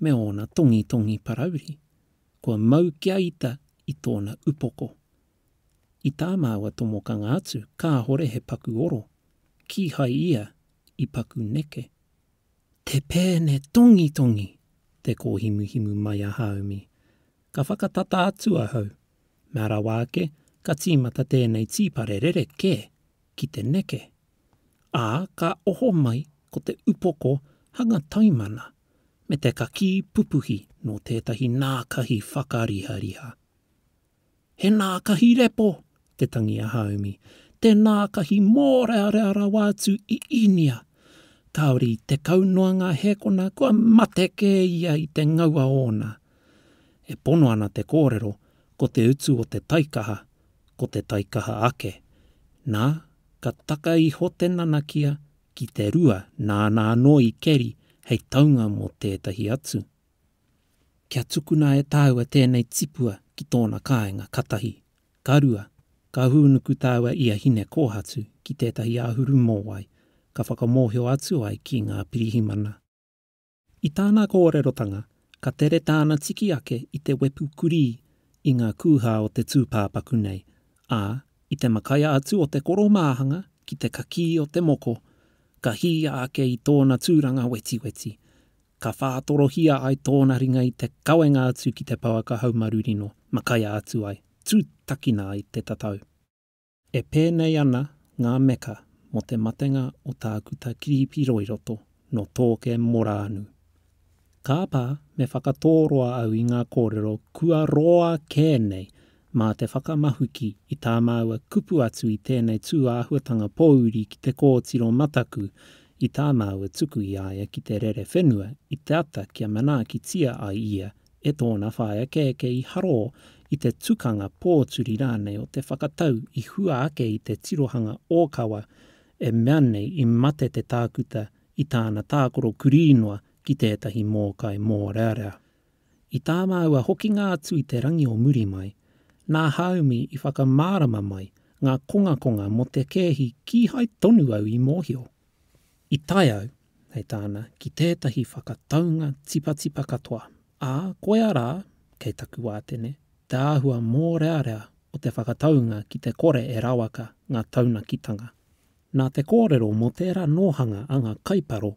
me ōna tongitongi parauri Kua mau kia ita i tōna upoko. I tā māua tomokanga atu kāhore he paku oro, kīhai ia i paku neke. Te pēne tongitongi! te kōhimuhimu mai a Hāumi. Ka whakatata atu ahau. Mea rawa ake, ka tīmata tēnei tīpare rerekē ki te neke. Ā, ka oho mai ko te upoko hanga taimana me te kakī pupuhi nō tētahi nākahi whakarihariha. He nākahi repo te tangi a Haumi, te nākahi mōrearea rawa atu i Īnia. Kāore i tekau noa ngā hēkona kua mate kē ia i te ngaua ōna. E pono ana te kōrero ko te utu o te taikaha ko te taikaha ake. Nā, ka taka iho te nanakia ki te rua nāna anō i keri hei taunga mō tētahi atu. Kia tukuna e tāua tēnei tipua ki tōna kāinga ka tahi, ka rua, ka hūnuku tāua i a Hinekōhatu ki tētahi āhuru mōwai ka whakamōhio atu ai ki ngā pirihimana. I tāna kōrerotanga, ka tere tāna tiki ake i te wepu kurī i ngā kūhā o te tūpāpaku nei, ā, i te makaia atu o te koromāhanga ki te kakī o te moko, ka hīia ake i tōna tūranga wetiweti, ka whātorohia ai tōna ringa i te kawenga atu ki te pouaka haumarurino, makaia atu ai, tūtakina ai te tatau. E pēnei ana ngā meka mō te matenga o Tākuta Kiripi Roiroto nō Tōke Morānu. Kāpā me whakatōroa au i ngā kōrero kua roa kē nei mā te whakamahuki i tā māua kupu atu i tēnei tūāhuatanga pōuri ki te kōtiro mataku i tā māua tuku i a ia ki te rere whenua i te ata kia manaakitia ai ia e tōna whāekeeke i harō i te tukanga pōturi rānei o te whakatau i hua ake i te tirohanga ōkawa e mea nei i mate te tākuta i tāna tākoro kurī noa ki tētahi mōkai mōrearea. I tā māua hokinga atu i te rangi o muri mai, nā Haumi i whakamārama mai ngā kongakonga mō te kēhi kīhai tonu au i mōhio. I tae au, hei tāna, ki tētahi whakataunga tipatipa katoa, ā, koia rā, kei taku wātene, te āhua mōrearea o te whakataunga ki te kore e rawaka ngā taunakitanga. Nā te kōrero mō tērā nōhanga a ngā kaiparo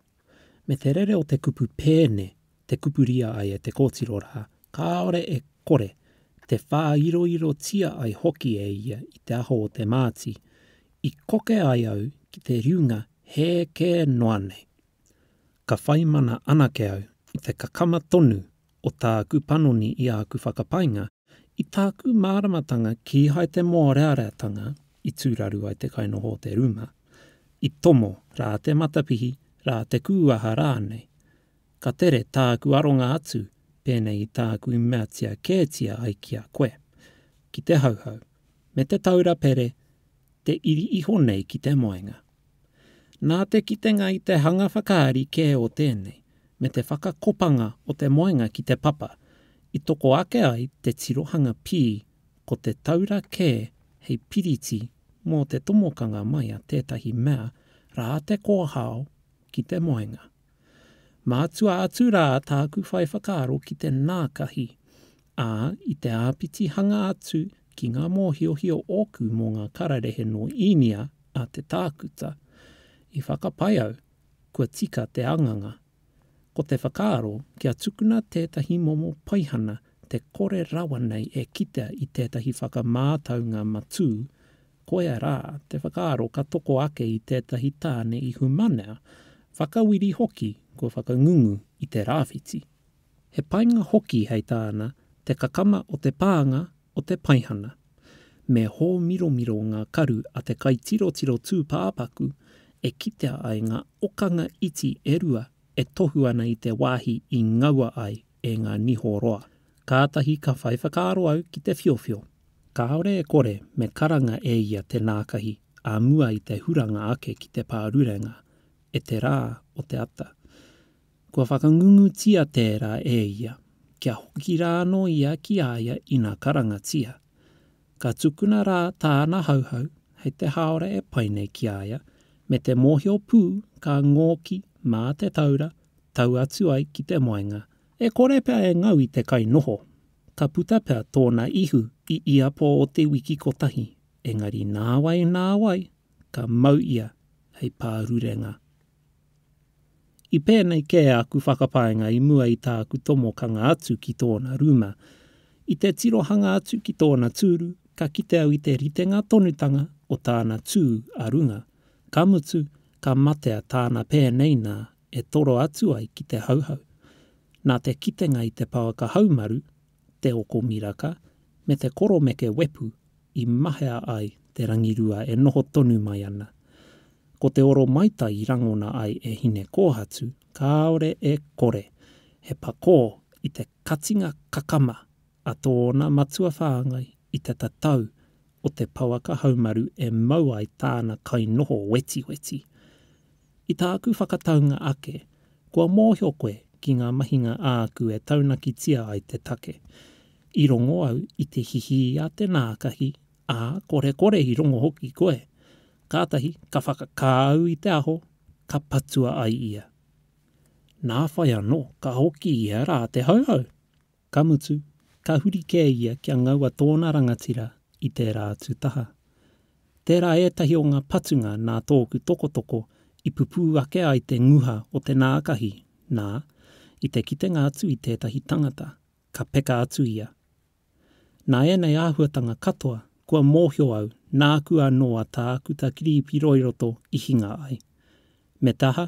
me te rere o te kupu pēne te kupuria ai e te kōtiro rā, kāore e kore, te whāiroirotia ai hoki e ia i te aho o te māti, i koke ai au ki te riunga hē kē noa nei. Ka whaimana anake au i te kakama tonu o tāku panoni i āku whakapainga, i tāku māramatanga kīhai te mōreareatanga i tūraru ai te kainoho o te rūma, i tomo rā te matapihi, rā te kūaha rānei. Ka tere tāku aronga atu pēnei i tāku i meatia kētia ai ki a koe, ki te Hauhau, me Te Taura Pere te iri iho nei ki te moenga. Nā te kitenga i te hanga whakaari kē o tēnei, me te whakakopanga o te moenga ki te papa, i toko ake ai te tirohanga pī ko te taura kē hei piriti mō te tomokanga mai a tētahi mea rā te kōhao ki te moenga. Mātua atu rā tāku whai whakaaro ki te nākahi, ā, i te āpitihanga atu ki ngā mōhiohio ōku mō ngā kararehe nō Īnia a te tākuta, i whakapae au, kua tika te anganga. Ko te whakaaro kia tukuna tētahi momo paihana te kore rawa nei e kitea i tētahi whakamātaunga matū, Koia rā te whakaaro ka toko ake i tētahi tāne ihumanea, whakawiri hoki kua whakangungu i te rāwhiti. He painga hoki hei tāna te kakama o te pānga o te paihana. Me hōmiromiro ngā karu a te kaitirotiro tūpāpaku e kitea ai ngā okanga iti e rua e tohu ana i te wāhi i ngaua ai e ngā niho roa. Kātahi ka whai whakaaro au ki te whiowhio. Kāore e kore me karanga e ia te nākahi ā mua i te huranga ake ki te pārurenga e te rā o te ata. Kua whakangungutia tērā e ia, kia hoki rā anō ia ki a ia ina karangatia. Ka tukuna rā tāna Hauhau hei te haora e pai nei ki a ia, me te mōhio pū ka ngōki mā te taura tau atu ai ki te moenga, e kore pea e ngau i te kai noho, Ka puta pea tōna ihu i ia pō o te wiki kotahi, engari nāwai nāwai ka mau ia hei pārurenga. I pēnei kē aku whakapaenga i mua i tāku tomokanga atu ki tōna rūma. I te tirohanga atu ki tōna tūru, ka kite au i te ritenga tonutanga o tāna tū a runga, ka mutu, ka matea tāna pēnei nā e toro atu ai ki te Hauhau. Nā te kitenga i te pāka haumaru, te oko miraka, me te koromeke wepu i mahea ai te rangirua e noho tonu mai ana. Ko te oro maitai i rangona ai e Hinekōhatu kāore e kore he pakō i te katinga kakama a tōna matua whāngai i te tatau o te pouaka haumaru e mau ai tāna kainoho wetiweti. I tāku whakataunga ake, kua mōhio koe ki ngā mahinga āku e taunakitia ai te take. I rongo au i te hihī a te nākahi, ā, korekore i rongo hoki koe. Kātahi ka whakakā au i te aho, ka patua ai ia. Nā whai anō ka hoki ia rā te Hauhau! Ka mutu, ka huri kē ia kia ngaua tōna rangatira i tērā atu taha. Tērā ētahi o ngā patunga nā tōku tokotoko i pupū ake ai te nguha o te nākahi, nā, i te kitenga atu i tētahi tangata, ka peka atu ia. Nā ēnei āhuatanga katoa kua mōhio au nāku anō a Tākuta Kirīpiroi-roto i hinga ai. Me te aha,